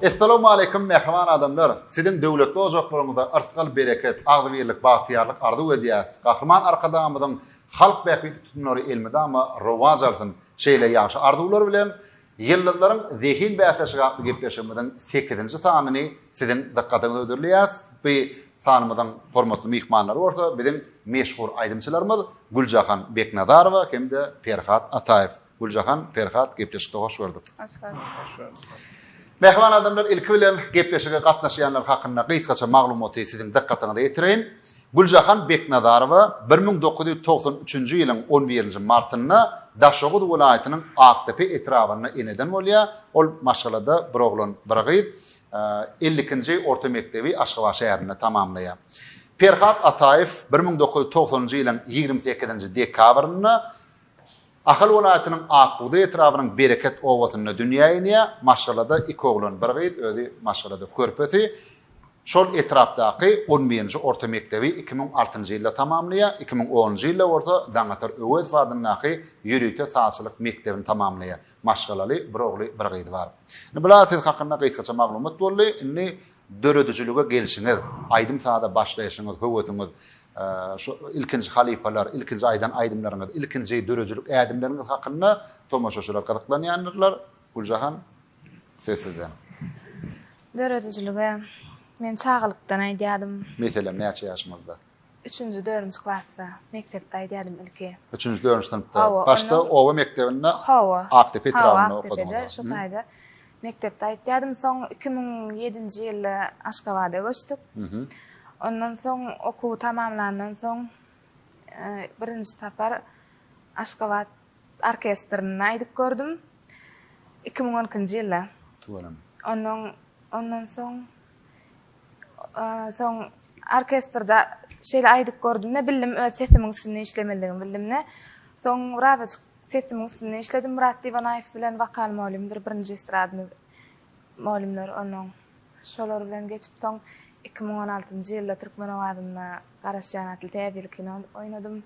Essalamu aleýkum mähriban adamlar. Siziň döwletli ojaklaryňyzda ysgal bereket, agzybirlik, bagtyýarlyk arzuw edýäs. Gahryman Arkadagymyzyň halk bähbitli tutumlary elmydama rowaç alsyn. Şeýle ýagşy arzuwlar bilen Ýyldyzlaryň zehin bäsleşigi atly gepleşigimiziň sekizinji sanyny siziň dykgatyňyza hödürleýäs. Bu sanymyzyň hormatly myhmanlary bolsa biziň meşhur aýdymçylarymyz Güljahan Beknazarowa hem-de Perhat Ataýew. Güljahan, Perhat, gepleşikde hoş gördük. Hoş gördük. Hoş gördük. Mähriban adamlar, ilki bilen gepleşige gatnaşýanlar hakynda gysgaça maglumaty siziň dykgatyňyza ýetireýin. Güljahan Beknazarowa bir müň dokuz ýüz togsan üçünji ýylyň on birinji martynda Daşoguz welaýatynyň Akdepe etrabynda eneden bolýar. Ol maşgalada bir oglan, bir gyz. Elli ikinji orta mekdebi Aşgabat şäherinde tamamlaýar. Perhat Ataýew bir müň dokuz ýüz togsanynjy ýylyň ýigrimi sekizinji dekabrynda. Ahal welaýatynyň Akbugdaý etrabynyň Bereket obasynda dünýä inýär. Maşgalada iki oglan, bir gyz, özi maşgalada körpesi. Şol etrapdaky on birinji orta mekdebi iki müň altynjy ýylda tamamlaýar, iki müň onunjy ýylda bolsa Daňatar Öwezow adyndaky ýörite sazçylyk mekdebini tamamlaýar. Maşgalaly, bir ogly, bir gyzy bar. Indi bu la siz hakynda gysgaça maglumat boldy. Indi Döredijilige gelşiňiz, aýdym-saza başlaýşyňyz, höwesiňiz, şu ilkinji halypalar, ilkinji aýdan aýdymlaryňyz, ilkinji döredijilik ädimleriňiz hakynda tomaşaçylar gyzyklanýandyrlar. Güljahan, söz sizden. Döredijilige men çagalykdan aýdýardym. Meselem, näçe ýaşyňyzda? Üçünji dörünji klasda mekdepde aýdýadym ilki. Üçünji dörünji synpda. Hawa. Başda oba mekdebinde. Hawa. Akdepe etrabynda okadyň. Hawa. Şu taýda mekdepde aýdýadym. Soň iki müň ýedinji ýylda Aşgabada göçdük. Ondan soň okuwy tamamlandan soň birinji sapar Aşgabat orkestrinde aýdyp gördüm. Iki müň on ikinji ýylda. Tüweleme. Ondan ondan soň Soň orkestrde şeýle aýdyp gördüm-de, bildim öz sesimiň üstünde işlemelidigimi bildim-de. Soň birazajyk sesimiň üstünde işledim Myrat Diwanaýew bilen, wokal mugallymdyr, birinji estradny mugallymdyr onuň. Şolar bilen geçip, soň iki müň on altynjy ýylda Türkmen owazynda Garaşýan atly täzelik kino oýnadym.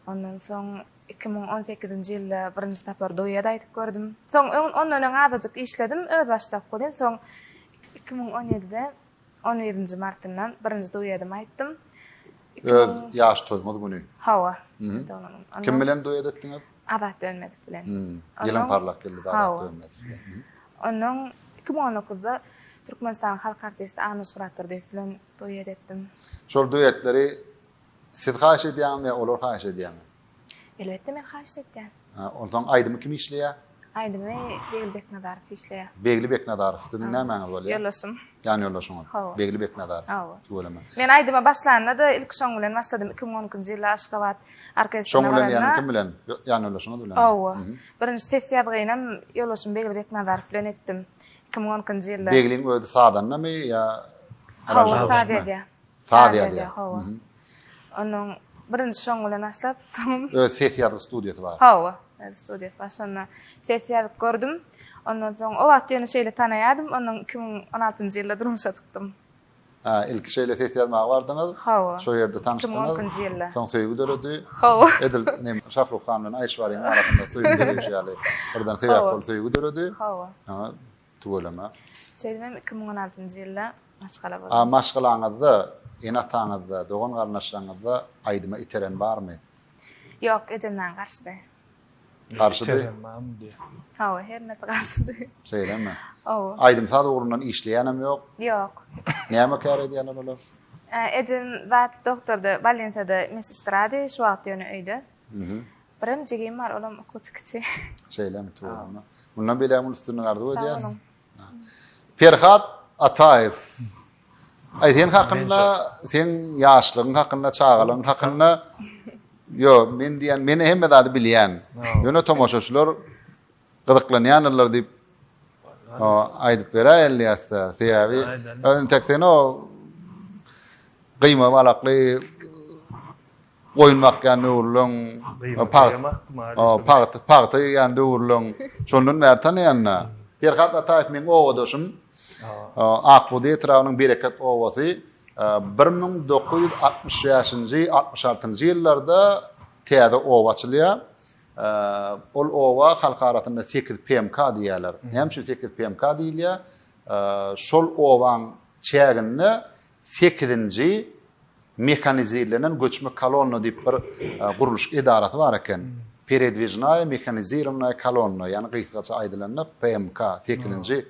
Ondan soň iki müň on sekizinji ýylda birinji sapar duet aýdyp gördüm. Soň ondan öň azajyk işledim, özbaşdak welin, soň Iki müň on ýedide on birinji martynda birinji duedim aýtdym. Öz ýaş toýuňyz güni. Hawa. Kim bilen duet etdiňiz? Azat Dönmedik bilen. Ýylyň parlak geldi Azat Dönmedik bilen. Ondan iki müň on dokuzda Türkmenistanyň halk artisti Anuş Muratdurdyýew bilen duet etdim. Şol duetleri siz haýyş edýäňizmi ýa olar haýyş edýärmi? Elbetde men haýyşt etýän. Ha, onsoň aýdymy kim işleýär? Aýdymy Begli Beknazarow işleýär. Begli Beknazarow siziň nämäňiz bolýar? Ýoldaşym. Ýan ýoldaşyňyz. Hawa. Begli Beknazarow. Hawa. Tüweleme. Men aýdyma başlanda-da ilki şoň bilen başladym. 2012-nji ýylda Aşgabat orkestrine Şoň bilen ýa-da kim bilen? Ýan ýoldaşyňyz bilen? Hawa. Birinji ses ýazgyny hem ýoldaşym Begli Beknazarow bilen etdim. 2012-nji ýylda. Begliň özi sazandamy ýa Hawa, saz edýär. Saz ýazýar. Hawa. Onuň birinji şoň bilen başlap, soň öz ses ýazgy studiýasy bar. Hawa, öz studiýasy bar. Şonda ses ýazyp gördüm. Ondan soň o wagt ýöne şeýle tanaýardym, onuň 2016-njy ýylda durmuşa çykdym. Ha, ilki şeýle ses ýazmaga bardyňyz. Hawa. Şo ýerde tanyşdyňyz. 2010-njy ýylda. Soň söýgi döredi. Hawa. Edil nem Şahrukhan bilen Aýşwaryň arasynda söýgi döreýşi ýaly birden sebäp bolup söýgi döredi. Hawa. Tüweleme. Şeýdibem iki müň on altynjy ýylda maşgala boldum. A maşgalaňyzda, ene-ataňyzda, dogan-garyndaşlaryňyzda aýdyma iteren barmy? Ýok, ejem maňa garşydy. Garşydy? Iterem barmy diýýä. Hawa, her nädip garşydy. Şeýlemi? Hawa. Aýdym-saz ugrundan işleýänem ýok? Ýok. Näme kär edýärler olar? Ejem zat doktordy, bolniçada mesestrady, şu wagt ýöne öýde. Birem jigim bar, olam okuwçy kiçi. Şeýlemi, tuwanda. Mundan beýläk uly üstünlik arzuw edýäs. Sag boluň. Perhat Ataýew. Aý sen hakynda, sen ýaşlygyň hakynda, çagalygyň hakynda Yo, men diýen, meni hemme zady bilýän. Ýöne tomaşaçylar gyzyklanýanlar diýip aýdyp beräý elýäsde. Sebäbi ön tekden o gyýma balakly Goýun bakýan döwürleň, pagta ýygýan döwürleň, şondan bäri tanaýan-da. Perhat Ataýew meň obadaşym. Akbudi etrabynyň Bereket obasy. Bir müň dokuz ýüz altmyş bäşinji, altmyş altynjy ýyllarda täze oba açylýar. Ol oba halk arasynda sekiz PMK diýýärler. Näme üçin sekiz PMK diýilýär? Şol obaň çäginde Sekizinji mehanizirlenen göçme kolonna diýip bir gurluşyk edarasy bar eken. Peredwijnaýa mehanizirownaýa kolonna, ýagny gysgaça aýdylanda PMK, sekizinji.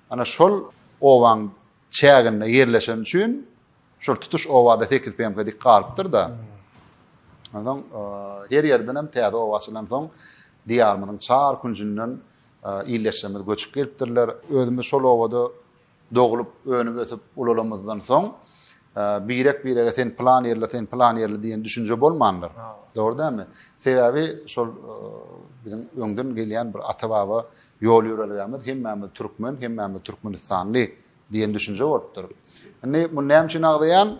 Ana şol obaň çäginde ýerleşeni üçin şol tutuş obada sekiz PMK dik galypdyr-da. Onsoň her ýerden hem täze oba açylansoň diýarymyzyň çar künjünden ildeşlerimiz göçüp gelipdirler. Özümiz şol obada Doglup, önüp-ösüp ulalamyzdan soň, birek-birege sen plan ýerli, sen plan ýerli diýen düşünje bolmandyr. Dogry dälmi? Sebäbi şol biziň öňden gelýän bir ata-baba ýol ýörelgämiz hemmämiz türkmen, hemmämiz türkmenistanly diýen düşünje bolupdyr. Indi muny näme üçin agzaýan?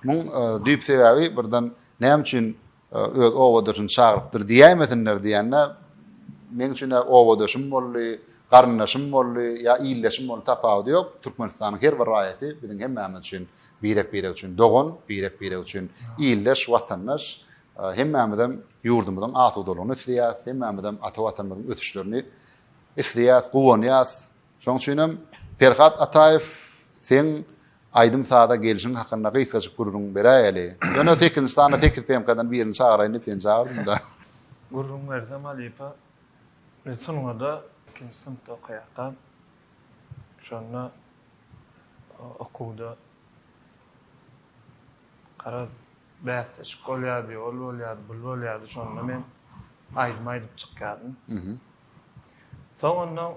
Muň düýp sebäbi birden näme üçin öz obadaşyny çagyrypdyr diýäýmesinler diýende, meň üçin-ä obadaşym boldy, garyndaşym boldy ýa ildeşim boldy, tapawudy ýok, Türkmenistanyň her bir raýaty biziň hemmämiz üçin, birek-birek üçin dogan, birek-birek üçin ildeş, watandaş. Hemmämizem ýurdumyzyň asudalygyny isleýäs, hemmämizem ata Watanymyzyň ösüşlerini isleýäs, guwanýas. Şoň üçinem Perhat Ataýew seň aýdym saza gelşiň hakynda gysgajyk gürrüň beräýeli. Ýöne sekizinji sanda sekiz PMK-dan birini çagyrayyn diýip seni çagyrdym-da. Gürrüň bersem halypa, men sungada ikinji synpda okaýarkam, şonda okuwda garaz bäsleşik bolýardy, ol bolýardy, bul bolýardy, şonda men aýdym aýdyp çykýardym. Soň onda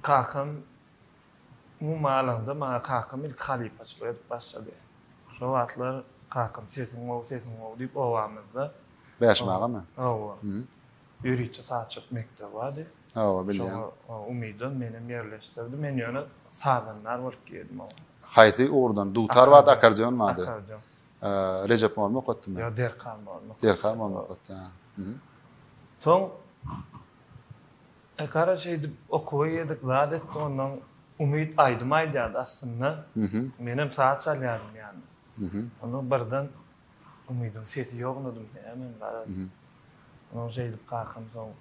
kakam umumy alanda maňa kakam ilki halypaçylyk edip başlady. Şo wagtlar kakam sesiň gowy, sesiň gowy diýip obamyzda Bäşim agamy? Hawa. Ýörite sazçylyk mekdebi bardy. Hawa, bilýän. Şoňa umydan menem ýerleşdirdi. Men ýöne sazandar bolup girdim oňa. Haýsy ugurdan? Dutar bardy, akkordeon bardy. Akkordeon. Rejep molla okatdymy? Ýok, Derkan molla okatdy. Derkan molla okatdy, hä. Soň, gara şeýdip okuwa girdik, zat etdik, ondan Umyt aýdym aýdýardy aslynda. Menem saz çalýardym ýanyna. Ondan birden Umydyň sesi ýognadym, näme men garaz. Ondan şeýdip kakam soň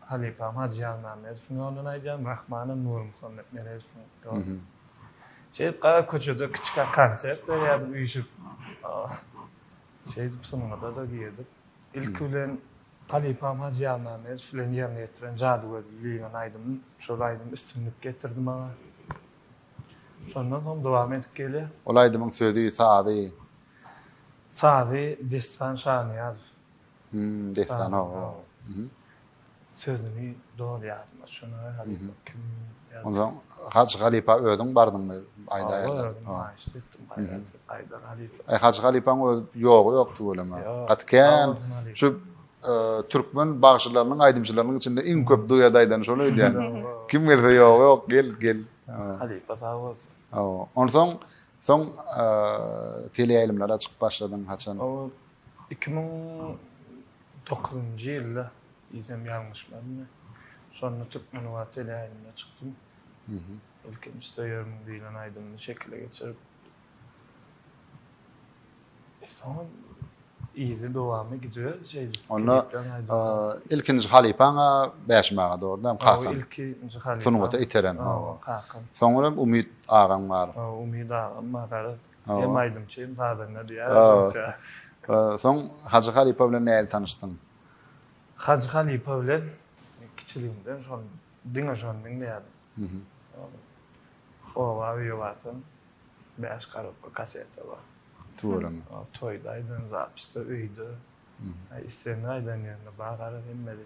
halypam Hajy Ýazmämmedowyň ýolundan aýdýan, Rahmanam Nurmuhammet Meredowyň ýolundan. Şeýdip gara köçede kiçikä konsert berýärdik üýşüp. Şeýdip sungata-da girdik. Ilki bilen halypam Hajy Ýazmämmedow bilen ýerine ýetiren Jadygözli diýlen aýdymym, şol aýdym üstünlik getirdi maňa. Şondan soň dowam edip gelýär. Ol aýdymyň sözi, sazy? Sazy Dessan Şanyýazow. Hum dessan ooo. Hum. Sözüni dogry ýazma şuna halypa kim ýazdy. Onda Hajy halypa özüň bardyňmy aýdaýarlar. Ooo aýşt etdim gaýraty gaýdar halypa. Aý Hajy halypaň öz ýogy ýok tüweleme. Gaty kän şu türkmen bagşylarynyň aýdymçylarynyň içinde iň köp duet aýdany şol öýdýän. Kim gelse ýogy ýok gel gel. Halypa sag bolsun. Ooo onsoň soň teleýaýlymlara çykyp başladyň haçan? Iki müň dokuzynjy ýylda diýsem ýalňyşmaryn, şonda Türkmenwagt teleýaýlymyna çykdym. Ilkinji Söýermiň diýlen aýdymyny şekile geçirip, soňam yzy dowamy gidiberdi şeýdip. Onda ilkinji halypaň-a Bäşim aga dogrudan hem kakaň. Hawa, ilkinji halypam. Sungata iteren, hawa. Kakam. Soňra Umyt agaň bar. Hawa, Umyt agam bar. Hem aýdymçy hem sazanda diýýär özümçe. Soň Hajy halypa bilen nädip tanyşdyň? Hajy halypa bilen men kiçiligimden şony diňe şony diňleýärdim. Oba öýe barsam bäş korobka kaseta bar. Tüweleme. Toýda aýdan zapisde öýde. Islendik aýdan ýerinde bar gara hemmede.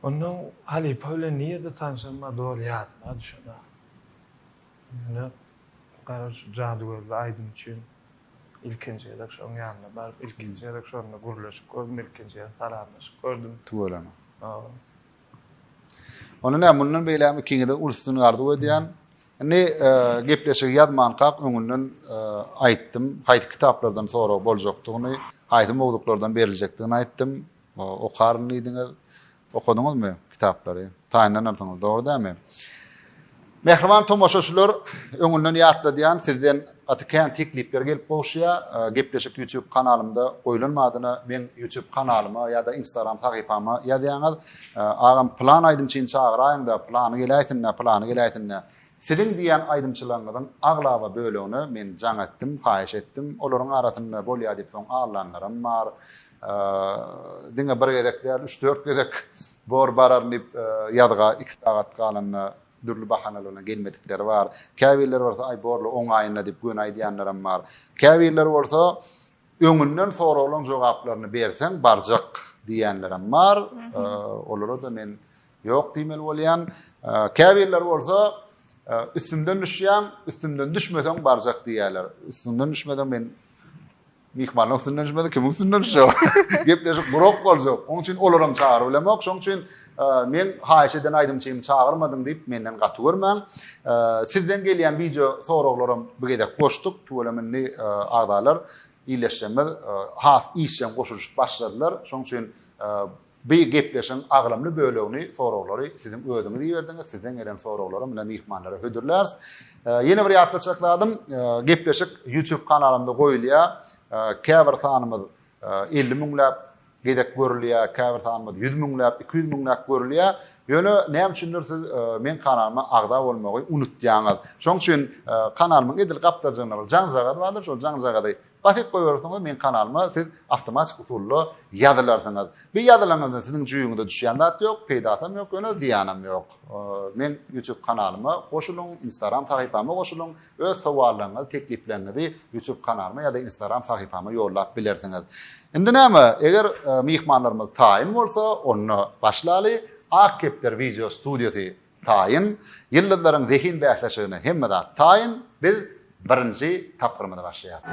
Ondan halypa bilen nirde tanşanymyz doly ýadymda düşenok. Ýöne gara şu jadygözli aýdym üçin ilkinji gezek şoň ýanyna baryp ilkinji gezek şonda gürleşip gördüm ilkinji gezek salamlaşyp gördüm. Tüweleme. Hawa. Onda näme mundan beýlägem ikiňizede uly üstünlik arzuw edýän. Indi gepleşigi ýazmankak öňünden aýtdym haýsy kitaplardan sorag boljakdygyny haýsy mowzuklardan beriljekdigini aýtdym. Okaryn diýdiňiz. Okadyňyzmy kitaplary? Taýynlanarsyňyz, dogry dälmi? Mähriban tomaşaçylar, öňünden ýatladýan, sizden gaty kän teklipler gelip gowuşýar. Gepleşik YouTube kanalymda goýlan badyna meň YouTube kanalyma ýa-da Instagram sahypama ýazýaňyz. Agam plan aýdymçyny çagyraýyňda, plany geläýsin-dä, plany geläýsin-dä. Siziň diýýän aýdymçylaryňyzyň aglaba bölegine men jaň etdim, haýyş etdim. Olaryň arasynda bolýar diýip soň allanlaram bar. Diňe bir gezek däl, üç-dört gezek bor bararyn diýip, ýazga iki sagat galanda dürli bahanalar bilen gelmedikleri bar. Käbirleri bolsa, aý borly on aýynda diýip göni aýdýanlaram bar. Käbirleri bolsa, öňünden soraglaryň jogaplaryny berseň barjak diýýänlerem bar. Olara-da men ýok diýmeli bolýan. Käbirleri bolsa, üstümden düşýän, üstümden düşmeseň barjak diýýärler. Üstüňden düşmeseň men Myhmanyň üstünden düşmedi, kimiň üstünden düşjek? Gepleşik gurak boljak. Onuň üçin olaram çagyryp bilemok. Şonuň üçin e, men haýyş eden aýdymçymy çagyrmadyň diýip menden gaty görmäň. E, sizden gelýän wideo soraglaram bu gezek goşduk. Tüweleme indi e, agzalar, illeşjemiz has işjeň goşulyşyp başladylar. Şonuň üçin Bu gepleşigiň agramly bölegini soraglary siziň özüňiz iberdiňiz, sizden gelen soraglaram ine myhmanlara hödürläris. Ýene bir ýatlatjak zadym, gepleşik YouTube kanalymda goýulýar. Käbir sanymyz elli müňläp gezek görülýär, käbir sanymyz ýüz müňläp, iki ýüz müňläp görülýär. Ýöne näme üçindir siz meň kanalyma agza bolmagy unutýaňyz. Şonuň üçin kanalymyň edil gapdalynda bir jaňjagaz bardyr, şol jaňjagazy Basyp goýberipsiňiz meň kanalyma siz awtomatik usulda ýazylarsyňyz. Bir ýazylaňyzda siziň jüýüňize düşýän zat ýok, peýdasam ýok ýöne zyýanam ýok. Meň YouTube kanalyma goşulyň, Instagram sahypama goşulyň, öz sowallaryňyzy, teklipleňňizi YouTube kanalyma ýa-da Instagram sahypama ýollap bilersiňiz. Indi näme, eger myhmanlarymyz taýyn bolsa, onda başlaly. Ak kepder wideo studiýasy Taýyn, Ýyldyzlaryň zehin bäsleşigine hemme zat taýyn, biz birinji tapgyrymyzy başlaýarys.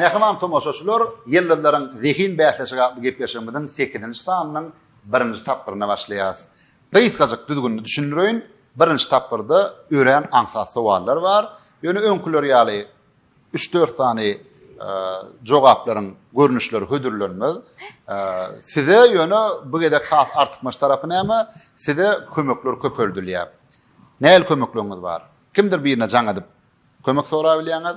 Mähriban tomaşaçylar, Ýyldyzlaryň zehin bäsleşigi atly gepleşigimiziň sekizinji sanynyň birinji tapgyryna başlaýarys. Gysgajyk düzgünini düşündireýin, birinji tapgyrda örän aňsat sowallar bar, ýöne öňküler ýaly Üç-dört sany jogaplaryň görnüşleri hödürlenmez. Size ýöne bu gezek has artykmaç tarapy näme? Size kömekler köpeldilýär. Nähili kömekleriňiz bar? Kimdir birine jaň edip kömek sorap bilýäňiz.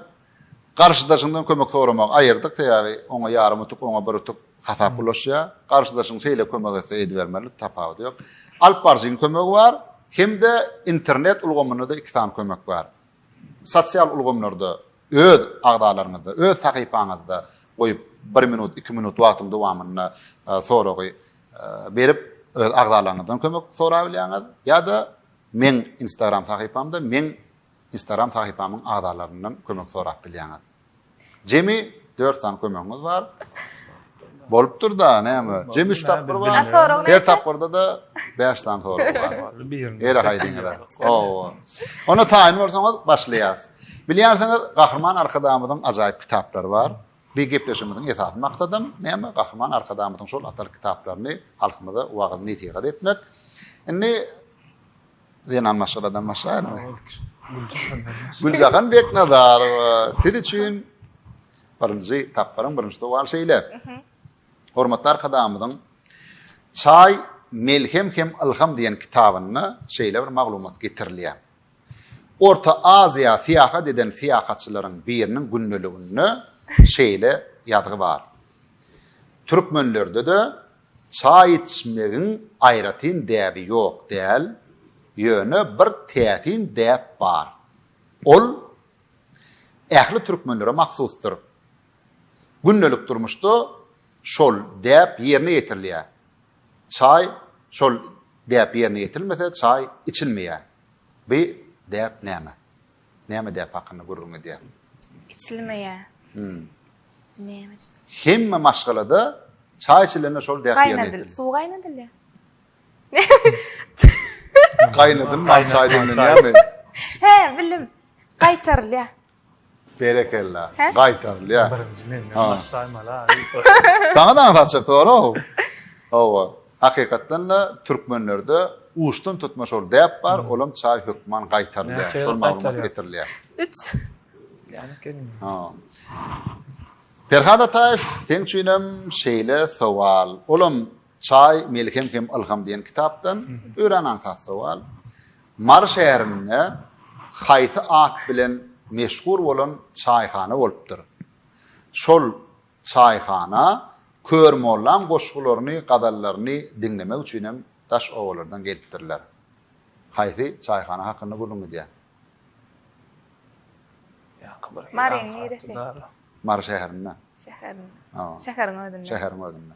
Garşydaşyňdan kömek soramagy aýyrdyk, sebäbi oňa ýarym utuk, oňa bir utuk hasap ulaşýar. Garşydaşyň şeýle kömek etse edibermeli, tapawudy ýok. Alyp baryjyň kömegi bar, hem-de internet ulgamynda-da iki sany kömek bar. Sosial ulgamlarda öz agzalaryňyzda, öz sahypaňyzda goýup bir minut, iki minut wagtyň dowamynda soragy berip öz agzalaryňyzdan kömek sorap bilýäňiz ýa-da meň instagram sahypamda meň instagram sahypamyň agzalaryndan kömek sorap bilýäňiz. Jemi dört sany kömegiňiz bar. Bolupdyr da, näme? Jemi üç tapgyr bar. Her tapgyrda da bäş sany sorag bar. Ere haýdyňyz. Owa. Onda taýyn bolsaňyz, başlaýas. Bilýänsiňiz, Gahryman Arkadagymyzyň ajaýyp kitaplary bar. Bu gepleşigimiziň esasy maksadym, näme? Gahryman Arkadagymyzyň şol atal kitaplaryny halkymyza wagyz-nesihat etmek. Indi Zenan maşgaladan başlaýarmy? Güljahan Beknazarowa, siz üçin birinji tapgyryň birinji sowal şeýle. Mhm. Hormatly arkadagymyzyň Çaý melhem hem ylham diýen kitabynda şeýle bir maglumat getirilýär. Orta Aziýa syýahat eden syýahatçylaryň biriniň gündeliginde şeýle ýazgy bar. Türkmenlerde-de Çaý içmegiň aýratyn däbi ýok däl, ýöne bir täsin däp bar. Ol ähli türkmenlere mahsusdyr. Gündelik durmuşda şol däp ýerine ýetirilýär. Çaý şol däp ýerine ýetirilmese çaý içilmeýär. Bi däp näme? Näme däp hakyna gürrüň edýär. Içilmeýä. Näme. Hemme maşgalada çaý içilende şol däp ýerine ýetirilýär. Suw gaýnadylýar. Gaýnadylman çaý demlenýärmi? He, bilim. Gaýtarylýar. Berekella. Gaýtarylýar. Birinji menden başlaýmaly. Saňa da aňsatjak sorag. Hawa. Hakykatdan-da, türkmenlerde uçdan tutma şol däp bar, olam çaý hökman gaýtarylýar, şol maglumat getirilýär. Üç. Perhat Ataýew, seň üçinem şeýle sowal. Olam Çaý, melhem hem ylham diýen kitapdan. Örän aňsat sowal. Mary şäherinde haýsy at bilen meşhur bolan çaýhana bolupdyr? Şol Çaýhana, Kör mollam goşgularyny, gazallaryny diňlemek üçinem daş obalardan gelipdirler. Haýsy çaýhana hakynda gürrüň gidýär? Ýaňky bir ýyl Maryň aňsat niresi? dudarly. Mary şäherinde. Şäherin. Ha, Şäheriň özünde. şäheriň özünde.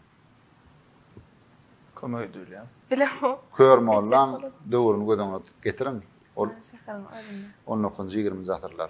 Kömek edilýär. Bilemok. Kör mollaň döwrüni göz öňüne getiriň. Ol Mary şäheriň özünde. on dokuzynjy, ýigriminji asyrlar.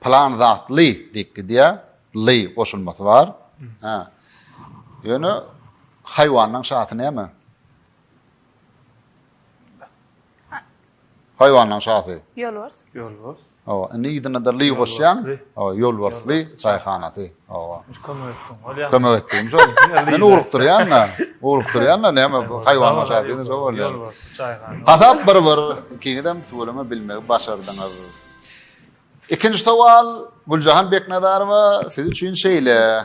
Plan zatly diýip gidýär. Ly goşulmasy bar. Hä. Ýöne haýwanyň şasy näme? Haýwanyň şasy. Ýolbars. Ýolbars. Hawa, indi ýygyna-da ly goşýan. Hawa, ýolbarsly çaýhanasy. Hawa. Kömek etdim. Bolýar. Kömek etdim. Şol. Men ugrukdyrýan-da. Ugrukdyrýan-da näme bu haýwanyň şasy diýende şo bolýar. Ýolbars çaýhana. Hasap bir-bir. Ikiňizem tüweleme bilmegi başardyňyz. Ikinji sowal Güljahan Beknazarowa siz üçin şeýle.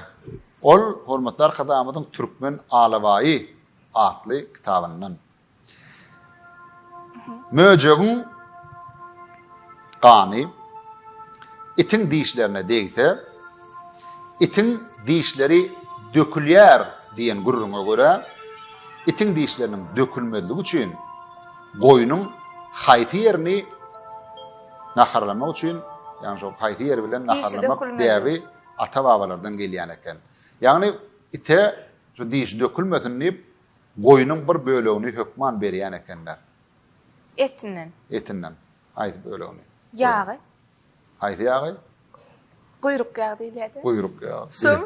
Ol hormatly arkadagymyzyň Türkmen alabaýy atly kitabyndan. Möjegiň gany itiň dişlerine degse, itiň dişleri dökülýär diýen gürrüňe görä, itiň dişleriniň dökülmezligi üçin Goýnuň haýsy ýerini naharlamak üçin, ýagny şol haýsy ýeri bilen naharlamak däbi ata-babalardan gelýän eken. Ýagny ite şu dişi dökülmesin diýip, goýnuň bir bölegini hökman berýän ekenler. Etinden. Etinden. Haýsy bölegini? Ýagy. Haýsy ýagy? Guýruk ýagy diýilýärdi. Guýruk ýagy. Sum.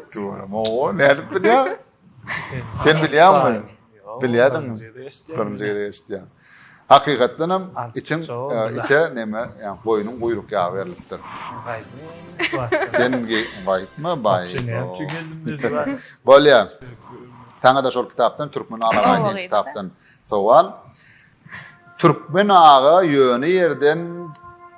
Oho, nädip bilýäň? Sen bilýäňmi? Bilýärdiňmi? Birinji gezek eşitýän. Hakykatdan hem itiň e, ite neme, yani goýnuň guýruk ýagy berlipdir. Sen gaýtma baý. Bolýar. Sana da şol kitapdan Türkmen Alagaýdyň kitapdan sowal. Türkmen aga ýöne ýerden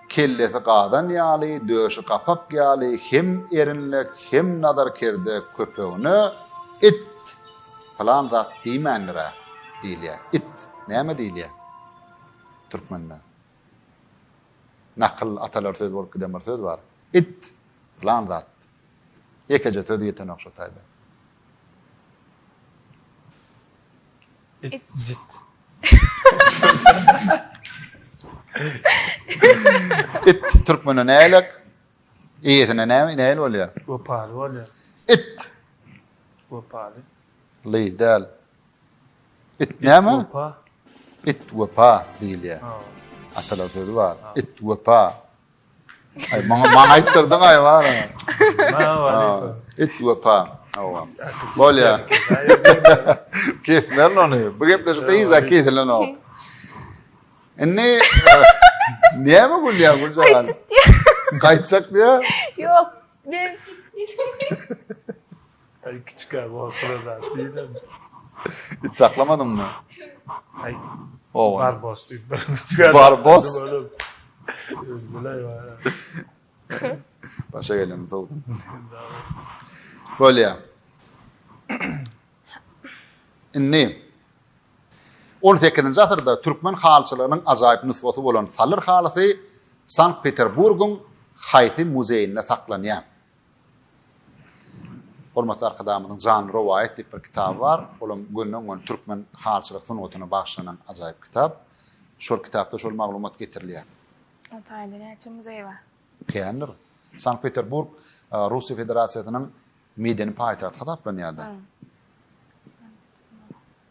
kellesi gazan ýaly, döşi gapak ýaly hem erinlek, hem nazarkerde köpegine it pylan zat diýmändir-ä diýilýär. It näme diýilýär türkmende? Nakyl atalar söz bolup giden bir söz bar. It pylan zat. Ýekeje söz ýetenok şo taýda. It türkmene nälik? Eýesine näme näli bolýar? Wepaly bolýar. It. Wepaly. Leý däl. It näme? Wepa. It wepa diýilýär. Atalar sözü bar. It wepa. Ay maňa maňa aýtdyrdyň ay bar. Et wepa. Hawa. Bolýa. Kesmerin ony. Bu gepleşik de hiç kesilen ok. Indi näme gülýär bu jalan? Gaýtjak diýä. Ýok, ben Aý kiçikä bolsa da diýdim. It saklamadyňmy? Aý. Owa. Bar bos diýip bir kiçikä. Bar bos. Öldüler bar. Başa gelen sowdum. Bolýa. Indi 18-nji asyrda türkmen halyçylygynyň ajaýyp nusgasy bolan salyr halysy Sankt-Peterburgyň haýsy muzeýinde saklanýar? Hormatly Arkadagymyzyň Janly rowaýat diýip bir kitaby bar. Olam gönden-göni türkmen halçylyk sungatyna bagyşlanan ajaýyp kitap. Şol kitapda şol maglumat getirilýär. O taýda näçe muzeý bar? Känidir. Sankt-Peterburg Russiýa Federasiýasynyň medeni paýtagty hasaplanýar-da.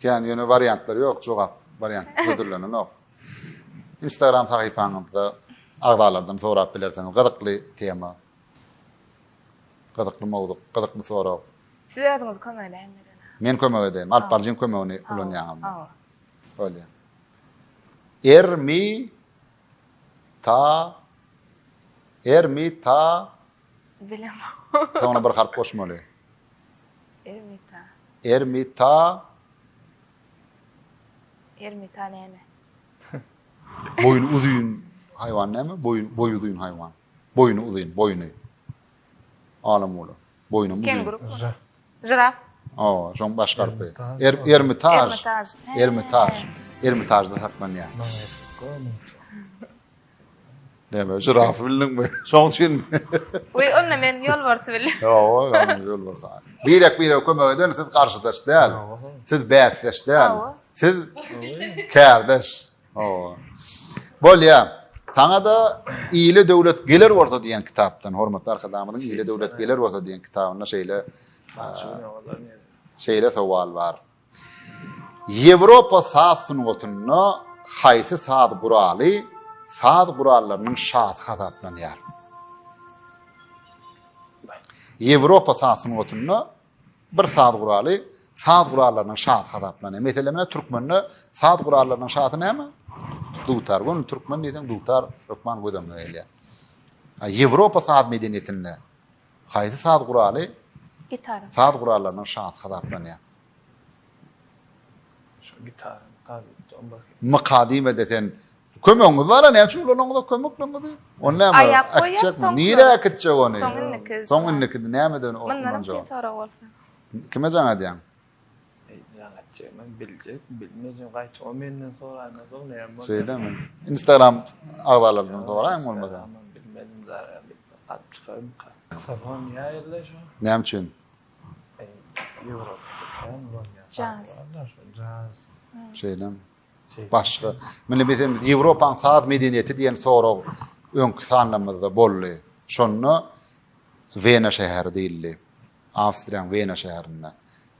Kän ýöne wariantlar ýok jogap wariant hödürlenenok. Instagram sahypaňyzda agzalardan sorap bilersiňiz gyzykly tema. Gyzykly mowzuk, gyzykly sorag. Siz özüňiz kömek edäýiňiz. Men kömek edeýin. Alyp baryjyň kömegini ulanýaňyz. Hawa. Bolýar. Ermi ta Ermi ta Bilemok. Soňuna bir harp goşmaly. Ermita. Ermita. Ermita näme? Boýny uzyn haýwan näme? Boýun, boýy uzyn haýwan. Boýny uzyn, boýny. Alam bolar. Boýnum uzyn. Kenguru. Žiraf. O, şoň baş garpy. Er, ermitaž. Ermitaž. Ermitaž. Ermitažda saklanýar. Näme, žirafy bildiňmi? Şoň üçin. Wi, onda men ýolbarsy bildim. Ýok, ýalňyş ýolbars. Birek-birege kömek eden siz garşydaş däl. Siz bäsdeş däl. Siz kärdeş. Hawa. Bolýar. Saňa-da Ile döwlet geler bolsa diýen kitapdan, hormatly arkadagymyzyň Ile döwlet geler bolsa diýen kitabynda şeýle şeýle sowal bar. Ýewropa saz sungatynda haýsy saz guraly saz gurallarynyň şasy hasaplanýar? Ýewropa saz sungatynda bir saz guraly saz gurallarynyň şasy hasaplanýar. Meselem, türkmende saz gurallarynyň şasy näme? Dutar. Bu türkmen diýseň dutar hökman gözüňe gelýär. Ýewropa saz medeniýetinde Haýsy saz guraly Gitara. saz gurallarynyň şasy hasaplanýar? Şo gitara, gazetde, on birki. Myka diýmede sen kömegiňiz bar-a näme üçin ulanyňyz-a kömekliňizi? Ony näme Aýap goýýar, äkitjekmi? soňky- Nirä äkitjek ony? Soň indiki. Soň indiki nämeden o- Mundanam ulanjak? kyn sorag bolsa. Kime jaň edýäň? Instagram agzalaryndan soraýyň bolmasa. Näme üçin? Şeýlemi? Başga. Mine biz hem Ýewropaň saz medeniýeti diýen sorag öňki sanlarymyzda boldy. Şonda Wena şäheri diýildi. Awstriýaň Wena şäherinde.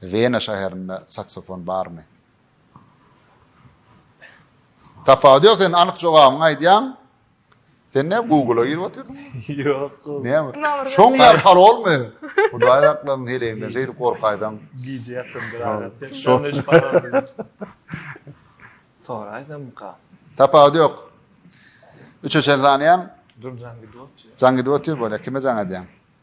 Wena şäherinde saksofon barmy? Tapawudy ýok sen anyk jogabyňy aýdýaň. Sen ne Google-a girip otyrsyň? Ýok. Näme? Şoň ýar parolmy? Hudaý saklasyn heleginden şeýdip gorkaýsaň. Gije ýatyryn bir aýrat. Şoň iş parol. Soraýsamka. Tapawudy ýok. Üçe çenli sanaýan? Dur jaň gidip otyr. Jaň gidip otyr bolýa. Kime jaň edýäň?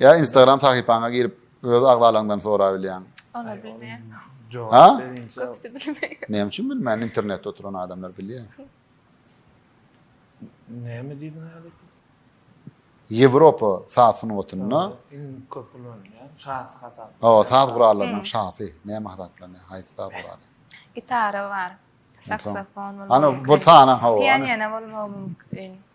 Ýa instagram sahypaňa girip öz agzalaňdan sorabilýäň. Olar bilmeýär. Ha? Köpüsi bilmeýär. Näme üçin bilmeýär? Internetde oturan adamlar bilýär. Näme diýdiň häli? Ýewropa saz sungatynda iň köp ulanylýan şahs hasap. Hawa, saz gurallarynyň şahsy näme hasaplanýar? Haýsy saz guraly? Gitara bar. Saksofon bolmaly. Ana, bir sanaň hawa. Pianino bolmagy mümkin.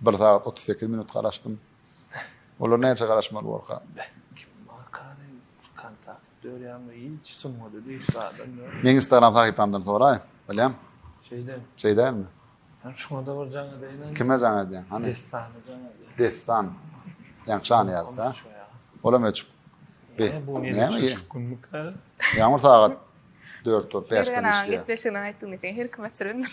Bir sagat otuz sekiz minut garaşdym. Olar näçe garaşmaly borka? Meň Instagram sahypamdan soraý. Bilýän. Şeýde. Şeýdämi? Hem şuňa da bir jaň edýän. Kime jaň edýän? Hany? Destan jaň edýän. Destan. Ýaň şan ýazda. Olam öçük. Be. Bu ne? Ýaňur sagat 4 top 5 tane işleýär. Gepleşigini aýtdyň diýen her kim açyrylar.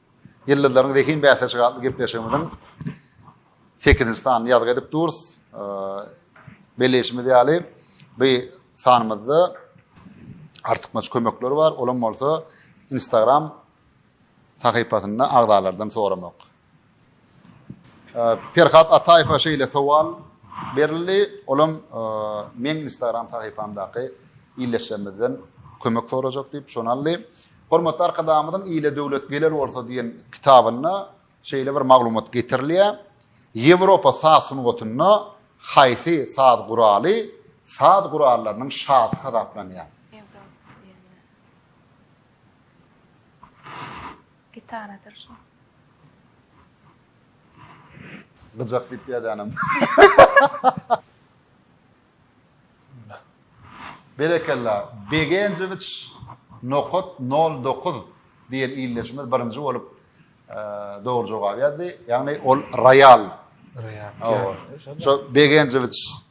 Ýyldyzlaryň zehin bäsleşigi atly gepleşigimiziň sekizinji sanyny ýazgy edip durus. Belleýşimiz ýaly, bu sanymyzda artykmaç kömekler bar. Olam bolsa Instagram sahypasynda agzalardan soramak. Perhat Ataýewe şeýle sowal berildi, olam meň instagram sahypamdaky illeşjemizden kömek sorajak diýip şony aldy. Hormatly Arkadagymyzyň Ile döwlet geler bolsa diýen kitabynda şeýle bir maglumat getirilýär. Ýewropa saz sungatynda haýsy saz guraly saz gurallarynyň şasy hasaplanýar? Gitaradyr şu. Gyjak diýip ýazanam. Berekella. Begenjewiç nokat 09 diýen ildeşimiz birinji bolup dogry jogap ýazdy. Ýagny ol roýal. Roýal. Şo Begenjewiç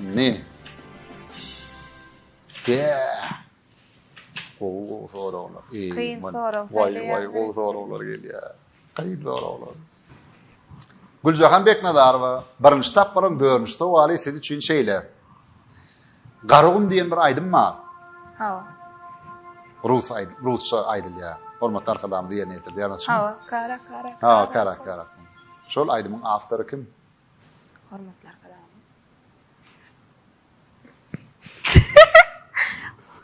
Ne? De. Gowy gowy soraglar. Kyn sorag. Waý waý gowy soraglar gelýär. Kyn soraglar. Güljahan Beknazarowa, birinji tapgyryň dördünji sowaly siz üçin şeýle. Garagum diýen bir aýdym bar. Hawa. Rus aýdym, rusça aýdylýar. Hormatly arkadagymyz ýerine ýetirdi ýazyjy. Hawa, kara kara. Hawa, kara kara. Şol aýdymyň awtory kim? Hormatly arkadagymyz.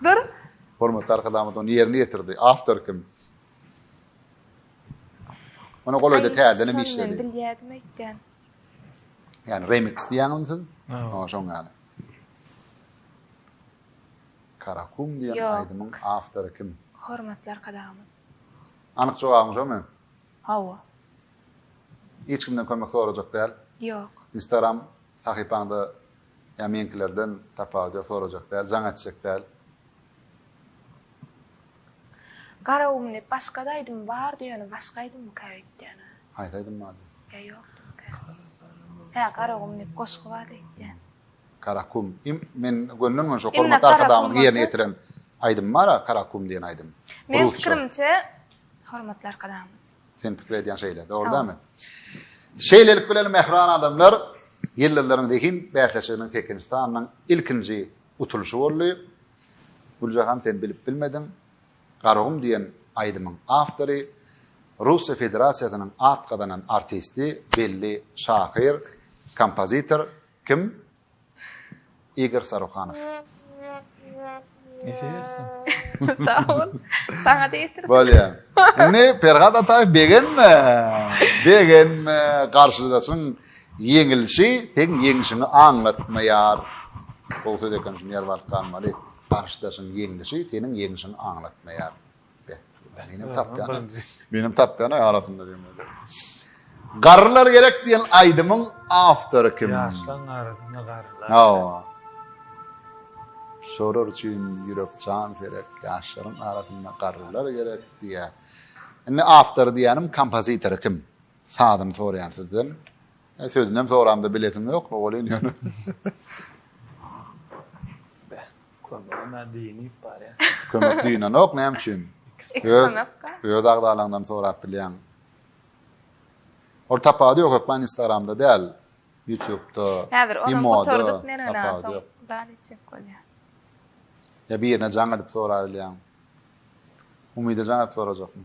Dur. Hormatly arkadagymyz ony ýerine ýetirdi. Awtor kim? Ona golaýda täzeden işledi. Bilýärdim öýtgen. Yani remix diýäňizmi siz? Ýa şoň ýaly. Karakum diýen aýdymyň awtory kim? Hormatly arkadagymyz. Anyk jogabyň şomy? Hawa. Hiç kimden kömek sorajak däl. Ýok. Instagram sahypaňda ýa meňkilerden tapawudy ýok sorajak däl, jaň etjek däl. Garagum diýip başgada aýdym bardy ýöne başga aýdymyka öýtýänä. Haýsy aýdym bardy? Ýa ýokdumyka. Hä Garagum diýip goşgy bardy öýtýän. Karakum im men gönden göni şo hormatly arkadagymyzyň ýerine ýetiren aýdym bara Karakum diýen aýdym. Meň pikirimçe hormatly arkadagymyz. Sen pikir edýän şeýle dogry dämi? Şeýlelik bilen mähriban adamlar ýyldyzlaryň zehin bäsleşiginiň Tekinistanyň ilkinji Utulyşy boldy. Güljahan sen bilip bilmediň. Garagum diýen aýdymyň awtory, Russiýa Federasiýasynyň at gazanan artisti, belli şahyr, kompozitor kim? Igor Saruhanow. Ejegersiň. Sag bol. Saňa-da ýetirdim. Bolýar. Indi Perhat Ataýew begenme. Begenme. Garşydaşyň Ýeňilişi seň ýeňşiňi aňlatmaýar. Gowy söz eken şuny ýazyp alyp galmaly. Garşydaşyň ýeňlişi seniň ýeňşiňi aňlatmaýar. Be. Menem tapýan. Menem tapýan aý arasynda diýmeli. Garrylar gerek diýen aýdymyň awtory kim? Ýaşlaň arasynda garrylar. Hawa. Şolar üçin ýürek jan serek, ýaşlaryň arasynda garrylar gerek diýýär. Indi awtory diýýänim kompozitory kim? Sazyny soraýan sizden. E, sözünem soramda bilesim ýok, welin ýöne. Kömegime diýip barýar. Kömek diýinenok, näme üçin? Öz, öz agzalaňdan sorap bilýän. Ol tapawudy ýok, hökman Instagramda däl, YouTubeda, Häzir onu gutardyk men öňe soň dal etjek bolýar. Ya birine jaň edip soraýylýan. Umyda jaň edip sorajakmy?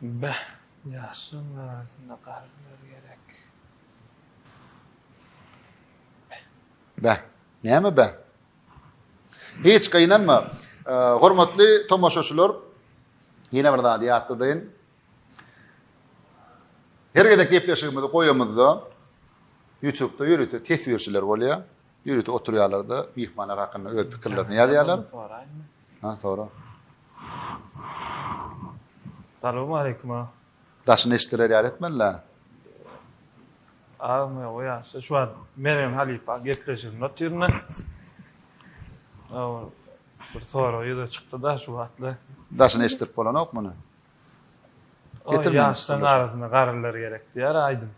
Beh, ýaşlaň arasynda garrylar gerek. Beh. Beh. Näme beh? Hiç gynanma. Hormatly tomaşaçylar, ýene bir zady ýatladaýyn. Her gezek gepleşigimizi goýamyzda, YouTube-da ýörite teswirçiler bolýar. Ýörite oturýarlar-da, myhmanlar hakynda öz pikirlerini ýazýarlar. Soraýynmy? Ha, sora. Salowmaleýkum, aga. Daşyny eşidiler ýaly etmeli-dä. Agam, ýok, o ýaşda şu wagt Mergen halypa gepleşiginde otyryn-da. Ol bir sorag ýüze çykdy-da şu wagtlar. Daşyny eşitdirip bolanok muny. Getirme. Ýaşlaryň arasynda garrylar gerek diýýär aýdym.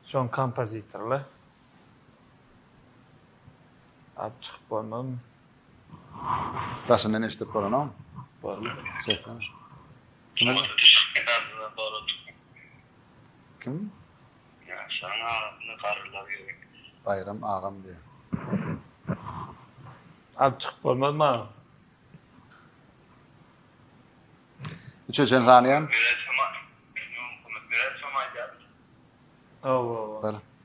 Şoň kompozitorlar. Aýp çykyp bolmazmy? Daşyndan eşidip bolanokmy? Bolmaz. Şeýtseň. Kim? Ýaşlaryň arasynda garrylar ýörek. Baýram agam diýýär. Aýp çykyp bolmazmy agam? Üçe çen sanaýan. Oba, oba.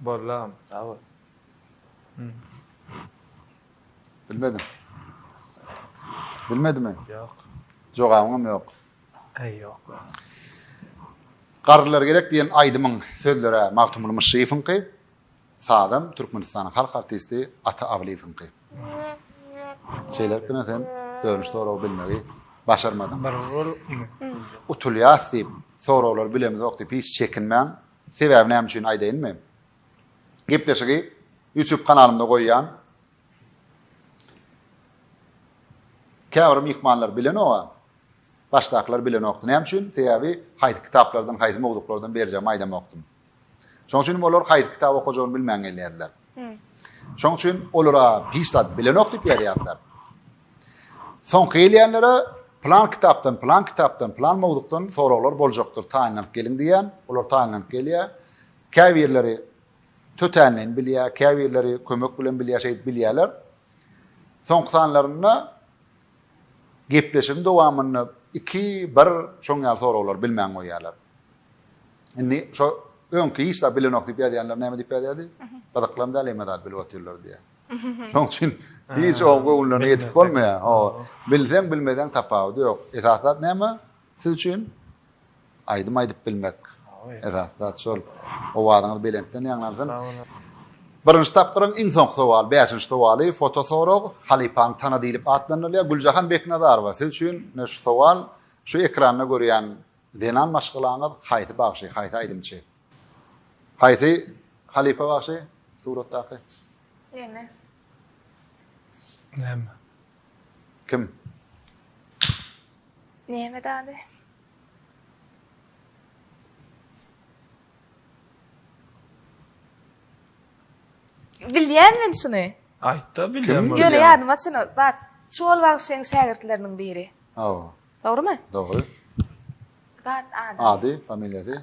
Boldy agam sag bol. Bilmedim. Bilmedimi? Ýok. Jogabyňam ýok. Eý ýok. Garrylar gerek diýen aýdymyň sözleri Magtymguly Myşşyýewiňki. Sazam Türkmenistanyň halk artisti Ata Awlyýewiňki. Şeýlelikde ine sen dönüş soragy bilmegi başarmadyň. Bir ol ine. Utulýas diýip soraglary bilemizok diýip hiç çekinmäň. Sebäbi näme üçin aýdaýynmy? Gepleşigi YouTube kanalymda goýýan. Käbir myhmanlar bilenoga, başdakylar bilenokdy. Näme üçin? Sebäbi haýsy kitaplardan, haýsy mowzuklardan berjegimi aýdamokdym. Şoň üçin olar haýsy kitap okajagyny bilmän gelýärdiler. Şoň üçin olara hiç zat bilenok diýip ýazýardylar. Soňky gelýänlere plan kitapdan, plan kitapdan, plan mowzukdan soraglar boljakdyr, taýynlanyp geliň diýýän. Olar taýynlanyp gelýär. Käbirleri tötänleýin bilýär, käbirleri kömek bilen bilýär, şeýdip bilýärler. Soňky sanlarynda Gepleşigiň dowamynda iki, bir şoň ýaly soraglary bilmän goýýarlar. Indi şo öňki hiç zat bilenok diýip ýazýanlar näme diýip ýazýardy? Gyzyklam däl hemme zat bilip otyrlar diýýär. Şoň üçin hiç oň göwünlerine ýetip bolmaýar. Bilseň bilmeseň tapawudy ýok. Esasy zat näme? Siz üçin aýdym aýdyp bilmek esasy zat şol. Owazyňyz belentden ýaňlansyn. Birinji tapgyryň iň soňky sowaly, bäşinji sowaly, foto sorag, halypaň tana diýlip atlandyrylýar. Güljahan Beknazarowa, siz üçin ne şu sowal, şu ekranda görýän zenan maşgalaňyz haýsy bagşy, haýsy aýdymçy? Haýsy halypa bagşy suratdaky? Näme? Näme? Kim? Neme dady? Bilýän men şuny. Aýtda bilýän. Ýöne ýadyma çyny. Bak, Çuwal bagşyň şägirtleriniň biri. Hawa. Dogrymy? Dogry. Bak, ady. Ady, familiýasy.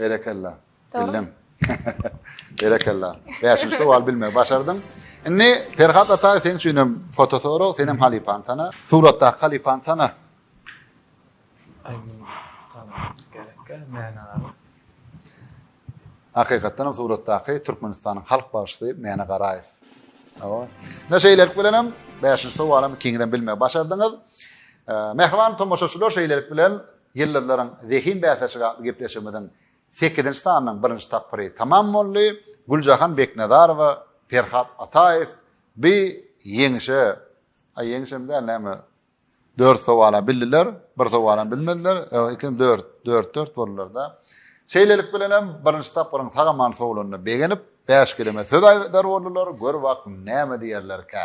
Berekella. Bildim. Berekella. Bäşinji sowal bilme başardyň. Indi Perhat Ataýew seň üçin hem foto sorag, sen hem halypaň tana. Suratdaky halypaň tana. Hakykatdan hem suratdaky Türkmenistanyň halk bagşysy Mäne Garaýew. Awa. Ne şeýlelik bilen hem 5-nji sowaly hem ikiňizem bilme başardyňyz. Mähriban tomaşaçylar şeýlelik bilen Ýyldyzlaryň zehin bäsleşigi atly gepleşigimiziň sekizinji sanynyň birinji tapgyry tamam boldy. Güljahan Beknazarowa, Perhat Ataýew bi ýeňişe, a ýeňişem däl näme, dört sowala bildiler, bir sowalam bilmediler, ýok, ikinji dört, dört-dört boldular-da. Şeýlelik bilenem birinji tapgyryň sag-aman sowlanyna begenip, bäşgüleme söz aýdar boldular, gör wak näme diýerlerkä.